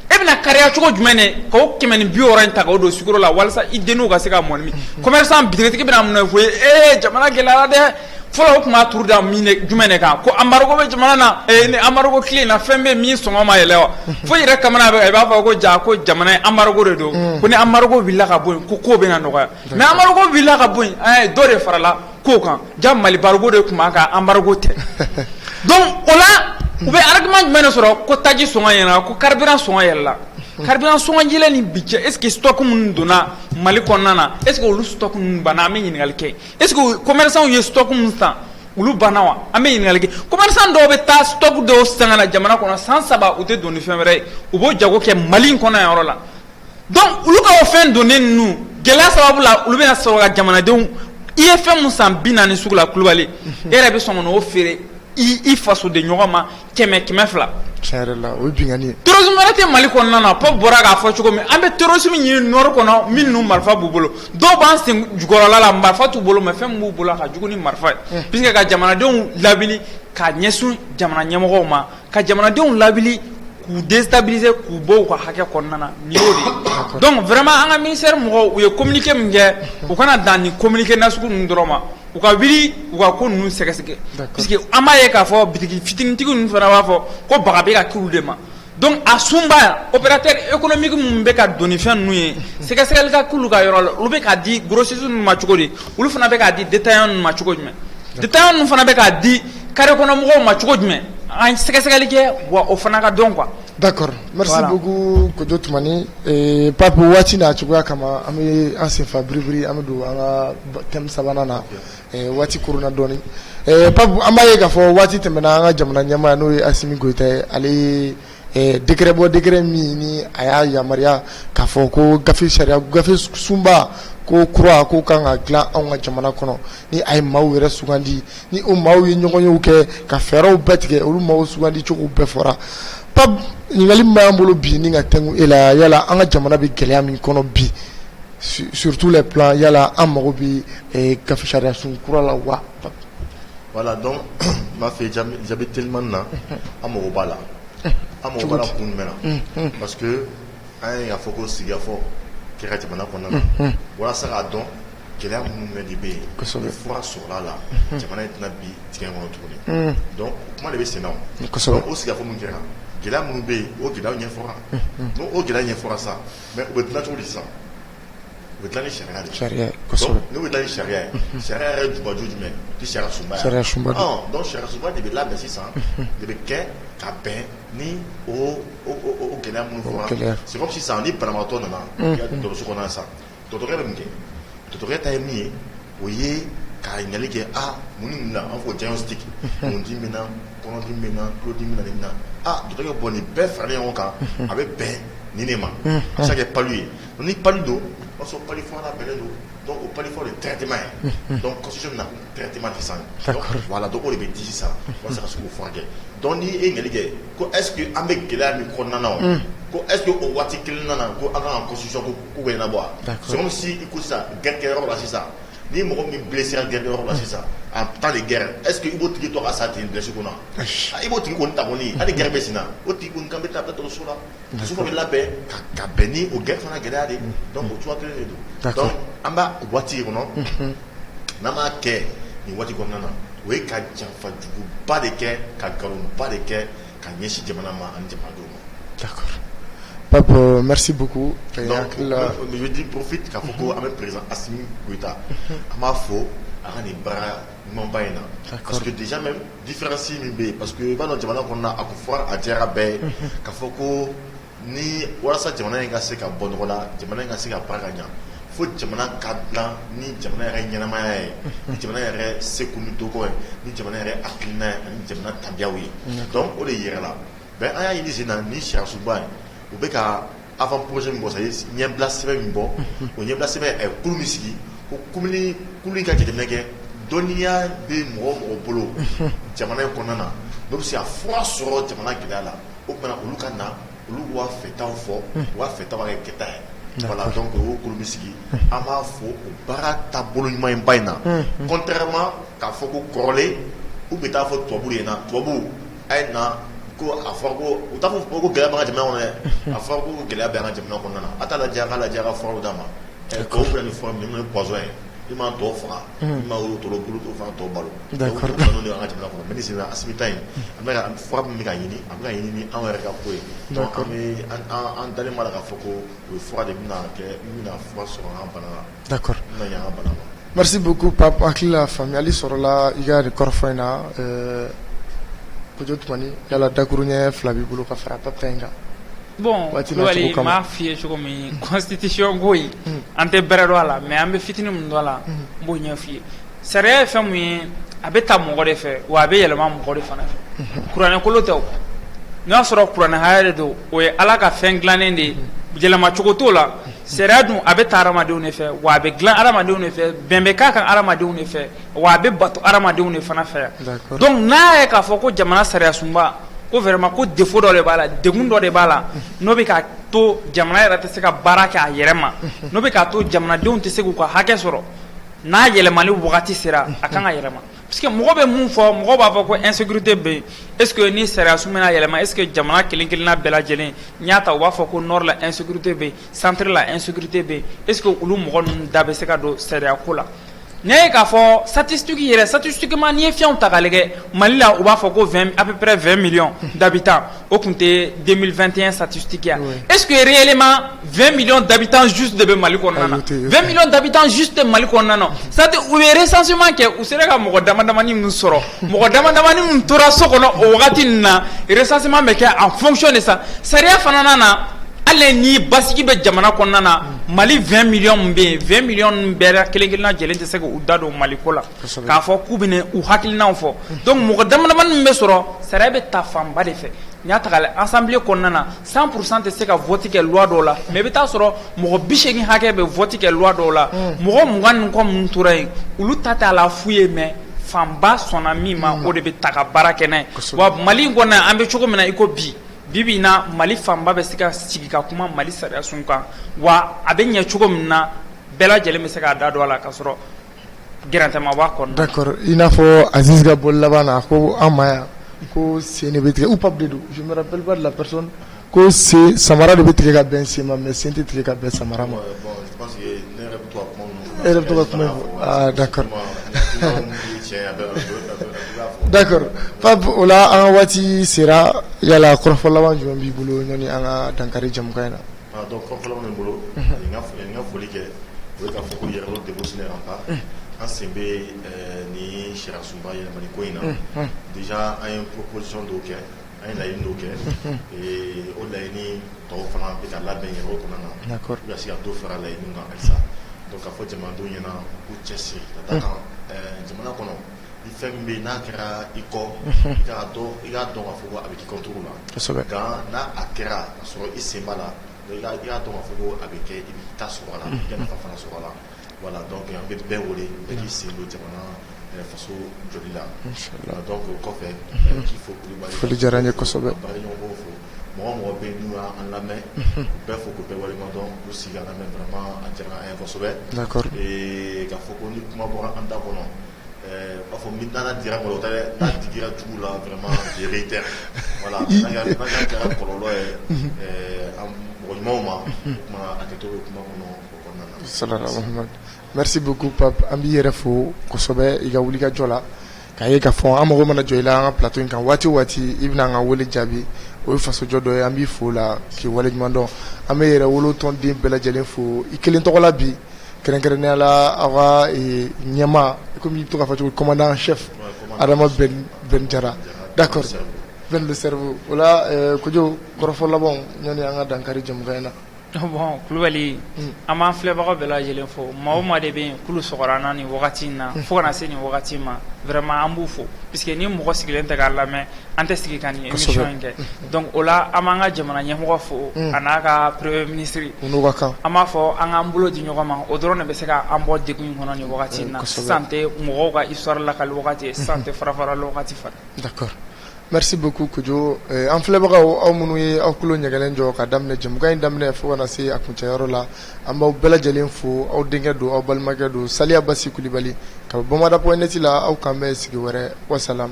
e bɛn'a kari cogo jumɛn de ka kɛmɛ ni bi wɔɔrɔ in ta k'o don sukaro la walasa i denninw ka se ka mɔni min commerçant bitigitigi bɛna mun fɔ e ye jamana gɛlɛyara dɛ fɔlɔ o tun b'a turu da jumɛn de kan ko embargo bɛ jamana na ni embargo tile in na fɛn bɛ min sɔngɔ ma yɛlɛ wa fo i yɛrɛ kamana bɛ i b'a fɔ ko ja ko jamana embargo de don ko ni embargo wulila ka bɔ yen ko kow bɛna nɔgɔya Mɛ amadugu wulila ka bɔ dɔ de farala ko kan ja mali baruko de tun kan anbarike tɛ don o la u bɛ alaki jumɛn de sɔrɔ ko taji s ɲɛna ko kari s yɛrɛ la kari sji ni bi cɛ ekitukun donna mali kɔnɔna na e olu kun banna an bɛ ɲininkakali kɛ e kɔmɛw ye sukun san olu banna wa an bɛ ɲininkakali kɔmri dɔw bɛ taa sutɔ dɔw san jamana kɔnɔ san saba u tɛ don ni fɛn wɛrɛ ye u b'o jago kɛ mali kɔnɔ yɔrɔ la Donc olu ka o fɛn donnen ninnu gɛlɛya sababu la olu bɛna sɔrɔ ka jamanadenw i ye fɛn min san bi naani sugu la Kulubali e yɛrɛ bɛ sɔn ka n'o feere i fasoden ɲɔgɔn ma kɛmɛ kɛmɛ fila tiɲɛ yɛrɛ la o ye binkanni ye terrorisme wɛrɛ tɛ Mali kɔnɔna na Paul bɔra k'a fɔ cogo min an bɛ terrorisme ɲini nord kɔnɔ minnu marifa b'u bolo dɔw b'an sen jukɔrɔla la marifa t'u bolo mais fɛn min b'u bolo ka jugu ni marifa ye puisque ka jamanadenw lawuli ka ɲɛsin jamana ɲɛmɔgɔw ma ka jamanadenw lawuli k'u déstabiliser k'u bɔ u ka hakɛ kɔnɔna na nin y'o de ye donc vraiment an ka ministère mɔgɔw u ye communiqué min kɛ u kana dan nin communiqué nasugu ninnu dɔrɔn ma u ka wuli u ka ko ninnu sɛgɛsɛgɛ parce que an b'a ye k'a fɔ bitigi fitinintigi ninnu fana b'a fɔ ko baga bɛ ka kɛ olu de ma donc a sunba opérateur économique minnu bɛ ka don ni fɛn ninnu ye sɛgɛsɛgɛli ka k'olu ka yɔrɔ la olu bɛ k'a di grossistes ninnu ma cogo di olu fana bɛ k'a di détaillants ninnu ma cogo jumɛn détaillants ninnu fana bɛ k'a di carré kɔnɔmɔgɔw ma cogo jumɛn an sɛgɛsɛgɛli kɛ wa o fana ka dɔn quoi d'accord merci beaucoup Kojo Tumani Pape waati n'a cogoya kama an bɛ an senfa biribiri an bɛ don an ka thème sabanan na waati koronna dɔɔnin Pape an b'a ye k'a fɔ waati tɛmɛna an ka jamana ɲɛmaa n'o ye Asimi Goyita ye ale Décret bɔ décret min ni a y'a yamaruya k'a fɔ ko gafe sariya gafe sunba ko kura ko kan ka dilan an ka jamana kɔnɔ ni a ye maaw yɛrɛ sugandi ni o maaw ye ɲɔgɔnyew kɛ ka fɛɛrɛw bɛɛ tigɛ olu maaw sugandi cogo bɛɛ fɔra Pape ɲininkali min b'an bolo bi ni ka tɛnku e la yala an ka jamana bɛ gɛlɛya min kɔnɔ bi sur tous les plans yala an mago bɛ gafe sariya sun kura la wa Voilà donc n b'a fɛ jaabi telimani na an mako b'a la an mako b'a la kun jumɛn na parce que an y'a fɔ ko sigikafɔ kɛra jamana kɔnɔna na walasa k'a dɔn gɛlɛya minnu bɛ de bɛ yen ni fura sɔrɔla a la jamana in tɛna bin dingɛ kɔnɔ tuguni donc kuma de bɛ sen na o sigikafɔ min kɛra gɛlɛya minnu bɛ yen o gɛlɛya ɲɛfɔra n'o gɛlɛya ɲɛfɔra sa mais o bɛ dilan cogo di sa U bɛ dilan ni sariya de sariya n'u bɛ dilan ni sariya ye sariya yɛrɛ jubaju jumɛn sariya sunba ye sariya sunba de bɛ labɛn sisan de bɛ kɛ ka bɛn ni gɛlɛya minnu fɔra c'est comme sisan ni banabagatɔ nana dɔgɔtɔrɔso kɔnɔ sa dɔgɔtɔrɔ bɛ mun kɛ dɔgɔtɔrɔ ta ye min ye o ye ka ɲininkali kɛ a mun ni mun na an ko diagnostic kundimi b'i na kɔnɔdimi b'i na tulodimi b'i na dɔgɔtɔrɔ b'o nin bɛɛ fara ɲɔgɔn kan a bɛ bɛn nin de ma a bɛ se ka kɛ palu ye ni pa don o sɔrɔ pa fɔlɔla bɛ don dɔnku o pa fɔ de tɛma ye dɔnsi na tɛma tɛ san wala dɔgɔ de bɛ di sa walasa ka segu furakɛ dɔn' e jelikɛke ko esseke an bɛ gɛlɛya min kɔnɔna ko eske o waati kelen nana ko ala ka kosi ku bɛ na bɔ sɔrɔ si ko sisan gɛrɛkɛyɔrɔ la sisan ni mɔgɔ min bilisisi gɛnyɔrɔ la sisan a taa de gɛrɛ eseke i' tigi to ka sa ten dɛsɛso na i b'o tigi ko ta hali gɛrɛ bɛ sen o tigi kan bɛ taa dɔgɔtɔrɔso la ka bɛn ni o g fana gɛlɛya de don an b' waati kɔnɔ n'an b'a kɛ nin waati kɔnɔna na o ye ka janfajuguba de kɛ ka nkalonba de kɛ ka ɲɛsin jamana ma an jama pa buku di porofin ka fɔ ko an bɛ perez asita an b'a fɔ a ka nin bara ɲumanba in na Différence min bɛ yen parce que i b'a dɔn jamana kɔnɔna a ko fɔra a diyara bɛɛ ye k'a fɔ ko ni walasa jamana in ka se ka bɔ nɔgɔ la jamana in ka se ka baara ka ɲa fo jamana ka dilan ni jamana yɛrɛ ɲɛnamaya ye ni jamana yɛrɛ seko ni dɔnko ye ni jamana yɛrɛ hakilina ye ani jamana tabiyaw ye donc o de yɛrɛ la mais an y'a ye nin sen na ni sariya sunba ye u bɛ ka Avant-projet min bɔ sa ye ɲɛbila sɛbɛn min bɔ o ɲɛbila sɛbɛn kulu min sigi ko kulu in ka jateminɛ kɛ dɔnniya bɛ mɔgɔ o mɔgɔ bolo jamana in kɔnɔna na n'o bɛ se ka fura sɔrɔ jamana gɛlɛya la o tuma na olu ka na olu b'a fɛtaw fɔ u b'a fɛtaw ka kɛ kɛta ye voilà donc o kulu min sigi an b'a fo o baara taabolo ɲuman in ba in na contrairement k'a fɔ ko kɔrɔlen u bɛ t'a fɔ tubabu de ɲɛna tubabu a ye na ko a fɔra ko u t'a fɔ ko ko gɛlɛya b'an ka jamana kɔnɔ dɛ, unhun, a fɔra ko gɛlɛya bɛ an ka jamana kɔnɔna na, a t'a lajɛ a k'a lajɛ a ka furaw d'a ma, ɛ tubabu filɛ nin ye fura min n'o ye poison ye min b'a tɔ faga, unhun, min b'a wolo tɔlɔ bulu to fɔ k'a tɔ balo, d'accord o poison de bɛ an ka jamana kɔnɔ mais ni sisan Asimi ta in a bɛ ka fura min bɛ ka ɲini a bɛ ka ɲini ni anw yɛrɛ ka ko ye, d'accord donc an bɛ an dalen b'a la k'a fɔ ko o fura de bɛna kɛ min bɛna fura sɔrɔ an ka bana la da merci beaucoup Pape hakili la faamuyali sɔrɔla i ka nin kɔrɔfɔ in na Kojo Tumani yala dakuru ɲɛ fila b'i bolo ka fara Pape ta in kan bon Kulubali m'a f'i ye cogo min constitution ko in an tɛ bɛrɛ dɔn a la mais an bɛ fitinin min dɔn a la n b'o ɲɛ f'i ye sariya ye fɛn min ye a bɛ ta mɔgɔ de fɛ wa a bɛ yɛlɛma mɔgɔ de fana fɛ kuranɛ kolo tɛ n'i y'a sɔrɔ kuranɛ haya de don o ye ala ka fɛn dilannen de ye yɛlɛmacogo t'o la Sariya dun a bɛ ta hadamadenw de fɛ wa a bɛ dilan hadamadenw de fɛ bɛn bɛ k'a kan hadamadenw de fɛ wa a bɛ bato hadamadenw de fana fɛ yan donc n'a ye k'a fɔ ko jamana sariya sunba ko vraiment ko défaut dɔ de b'a la degun dɔ de b'a la n'o bɛ k'a to jamana yɛrɛ tɛ se ka baara kɛ a yɛrɛ ma n'o bɛ k'a to jamanadenw tɛ se k'u ka hakɛ sɔrɔ n'a yɛlɛmali wagati sera a ka kan ka yɛlɛma Parce que mɔgɔ bɛ mun fɔ mɔgɔ b'a fɔ ko insécurité bɛ yen est ce que ni sariya sun bɛna yɛlɛma est ce que jamana kelen kelenna bɛɛ lajɛlen n'i y'a ta u b'a fɔ ko nord la insécurité bɛ yen centre la insécurité bɛ yen est ce que olu mɔgɔ ninnu da bɛ se ka don sariya ko la n'i y'a ye k'a fɔ statistique yɛrɛ statistiquement n'i ye fiyɛnw ta k'a lajɛ Mali la u b'a fɔ ko 20 à peu près 20 millions d'habitants o tun tɛ 2021 statistique ye wa est ce que réellement 20 millions d'habitants juste de bɛ Mali kɔnɔna na 20 millions d'habitants juste de Mali kɔnɔna na c'est à dire u ye recensement kɛ u sera ka mɔgɔ dama damani min sɔrɔ mɔgɔ dama damani min tora so kɔnɔ o wagati nin na recensement bɛ kɛ en fonction de ça sariya fana na na hali ni basigi bɛ jamana kɔnɔna na Mali 20 millions min bɛ yen 20 millions ninnu bɛɛ kelen kelenna lajɛlen tɛ se k'u da don Mali ko la k'a fɔ k'u bɛna u hakilinaw fɔ donc mɔgɔ dama damani min bɛ sɔrɔ sariya bɛ ta fanba de fɛ n'i y'a ta k'a lajɛ assemblée kɔnɔna na Cent pour cent tɛ se ka vote kɛ loi dɔ la mais i bɛ t'a sɔrɔ mɔgɔ bi segin hakɛ bɛ vote kɛ loi dɔw la mɔgɔ mugan ni kɔ minnu tora yen olu ta t'a la fu ye mais fanba sɔnna min ma o de bɛ ta ka baara kɛ n'a ye wa mali in kɔnɔ an bɛ cogo min na i ko bi bi bi in na mali fanba bɛ se ka sigi ka kuma mali sariya sun kan wa a bɛ ɲɛ cogo min na bɛɛ lajɛlen bɛ se k'a da don a la ka sɔrɔ D'accord i n'a fɔ Aziz ka bɔli laban na ko an ma yan ko sen de bɛ tigɛ ou pape de don je me rappelle pas de la personne ko sen samara de bɛ tigɛ ka bɛn sen ma mais sen tɛ tigɛ ka bɛn samara ma. Bon je pense que ne yɛrɛ bɛ to ka kuma minnu fɔ. E yɛrɛ bɛ to ka kuma minnu fɔ aa d'accord d'accord pape o la an ka waati sera yala kɔrɔfɔ laban jumɛn b'i bolo yanni an ka dankari jɛmukan in na. A dɔn fɔ fɔlɔ min bolo n ka foli kɛ o ka fɔ ko yɛrɛ de bɛ sɛnɛ an pa an sen bɛ ni sirasunba ye mali ko in na bi an ye psisɔn dɔw kɛ an ye layi dɔw kɛ o layi ni tɔw fana bɛ labɛn yɛrɛ o kɔnɔ na ka se ka to fara layi kan alisa ka fɔ jamana don ɲɛna u cɛ siri ka jamana kɔnɔ Ni fɛn min bɛ n'a kɛra i kɔ i'a dɔn i y'a dɔn fɔ a bɛ kɔt na n' a kɛra ka sɔrɔ i sen la i y'a dɔn fɔ a bɛ kɛ i bɛ taa so la fana so la wala an bɛ bɛɛ wele bɛɛ'i sen don jamana faso joli la dɔn ko kɔfɛ k'i foli diyara ye kosɛbɛ fo mɔgɔ o mɔgɔ bɛ yen n'u y'an lamɛn u bɛɛ fo k'u bɛɛ waleɲuman dɔn k'u sigi k'an lamɛn vraiment a diyara an ye kosɛbɛ, d'accord, ee k'a fɔ ko ni kuma bɔra an da kɔnɔ ɛɛ u b'a fɔ ni dara dira kɔlɔlɔ tɛ dɛ, n'a digira jugu la vraiment je réitère voilà n'a kɛra kɔlɔlɔ ye ɛɛ mɔgɔ ɲumanw ma o tuma hakɛto bɛ kuma kɔnɔ o kɔnɔna na, salala walahu maali Merci beaucoup Pape an b'i yɛrɛ fo kosɛbɛ i ka wuli ka jɔ la, k'a ye k'a fɔ an mago mana jɔ i la an ka plateau in kan waati o waati i bɛna an ka wele jaabi o ye fasojɔ dɔ ye an b'i fo o la k'i waleɲuman dɔn, an bɛ Yɛrɛwolo tɔnden bɛɛ lajɛlen fo i kelen tɔgɔ la bi kɛrɛnkɛrɛnnenya la aw ka ɲɛmaa comme i bɛ to k'a fɔ cogo min commandant en chef Adama Bɛn Jara d'accord Bɛn le cerveau voilà Kojo kɔrɔfɔ labanw yani an ka dan kari jɛmukan in na Bɔn Kulibali an b'an filɛbagaw bɛɛ lajɛlen fo maa o maa de bɛ yen k'olu sɔgɔra an na nin wagati in na fo ka na se nin wagati ma vraiment an b'u fo parce que ni mɔgɔ sigilen tɛ k'a lamɛn an tɛ sigi ka nin émission in kɛ donc o la an b'an ka jamana ɲɛmɔgɔ fo a n'a ka premier ministre an b'a fɔ an k'an bolo di ɲɔgɔn ma o dɔrɔn de bɛ se k'an bɔ degun in kɔnɔ nin wagati in na sisan tɛ mɔgɔw ka histoire lakali wagati ye sisan tɛ farafarali wagati fana Merci beaucoup Kojo ee an filɛbagaw aw minnu ye aw tulo ɲɛgɛlen jɔ ka daminɛ jɛmukan in daminɛ fo ka na se a kuncɛ yɔrɔ la an b'aw bɛɛ lajɛlen fo aw denkɛ don aw balimakɛ don Saliya Basi Kulibali ka bɔ Bamada point net la aw k'an bɛn sigi wɛrɛ wasalam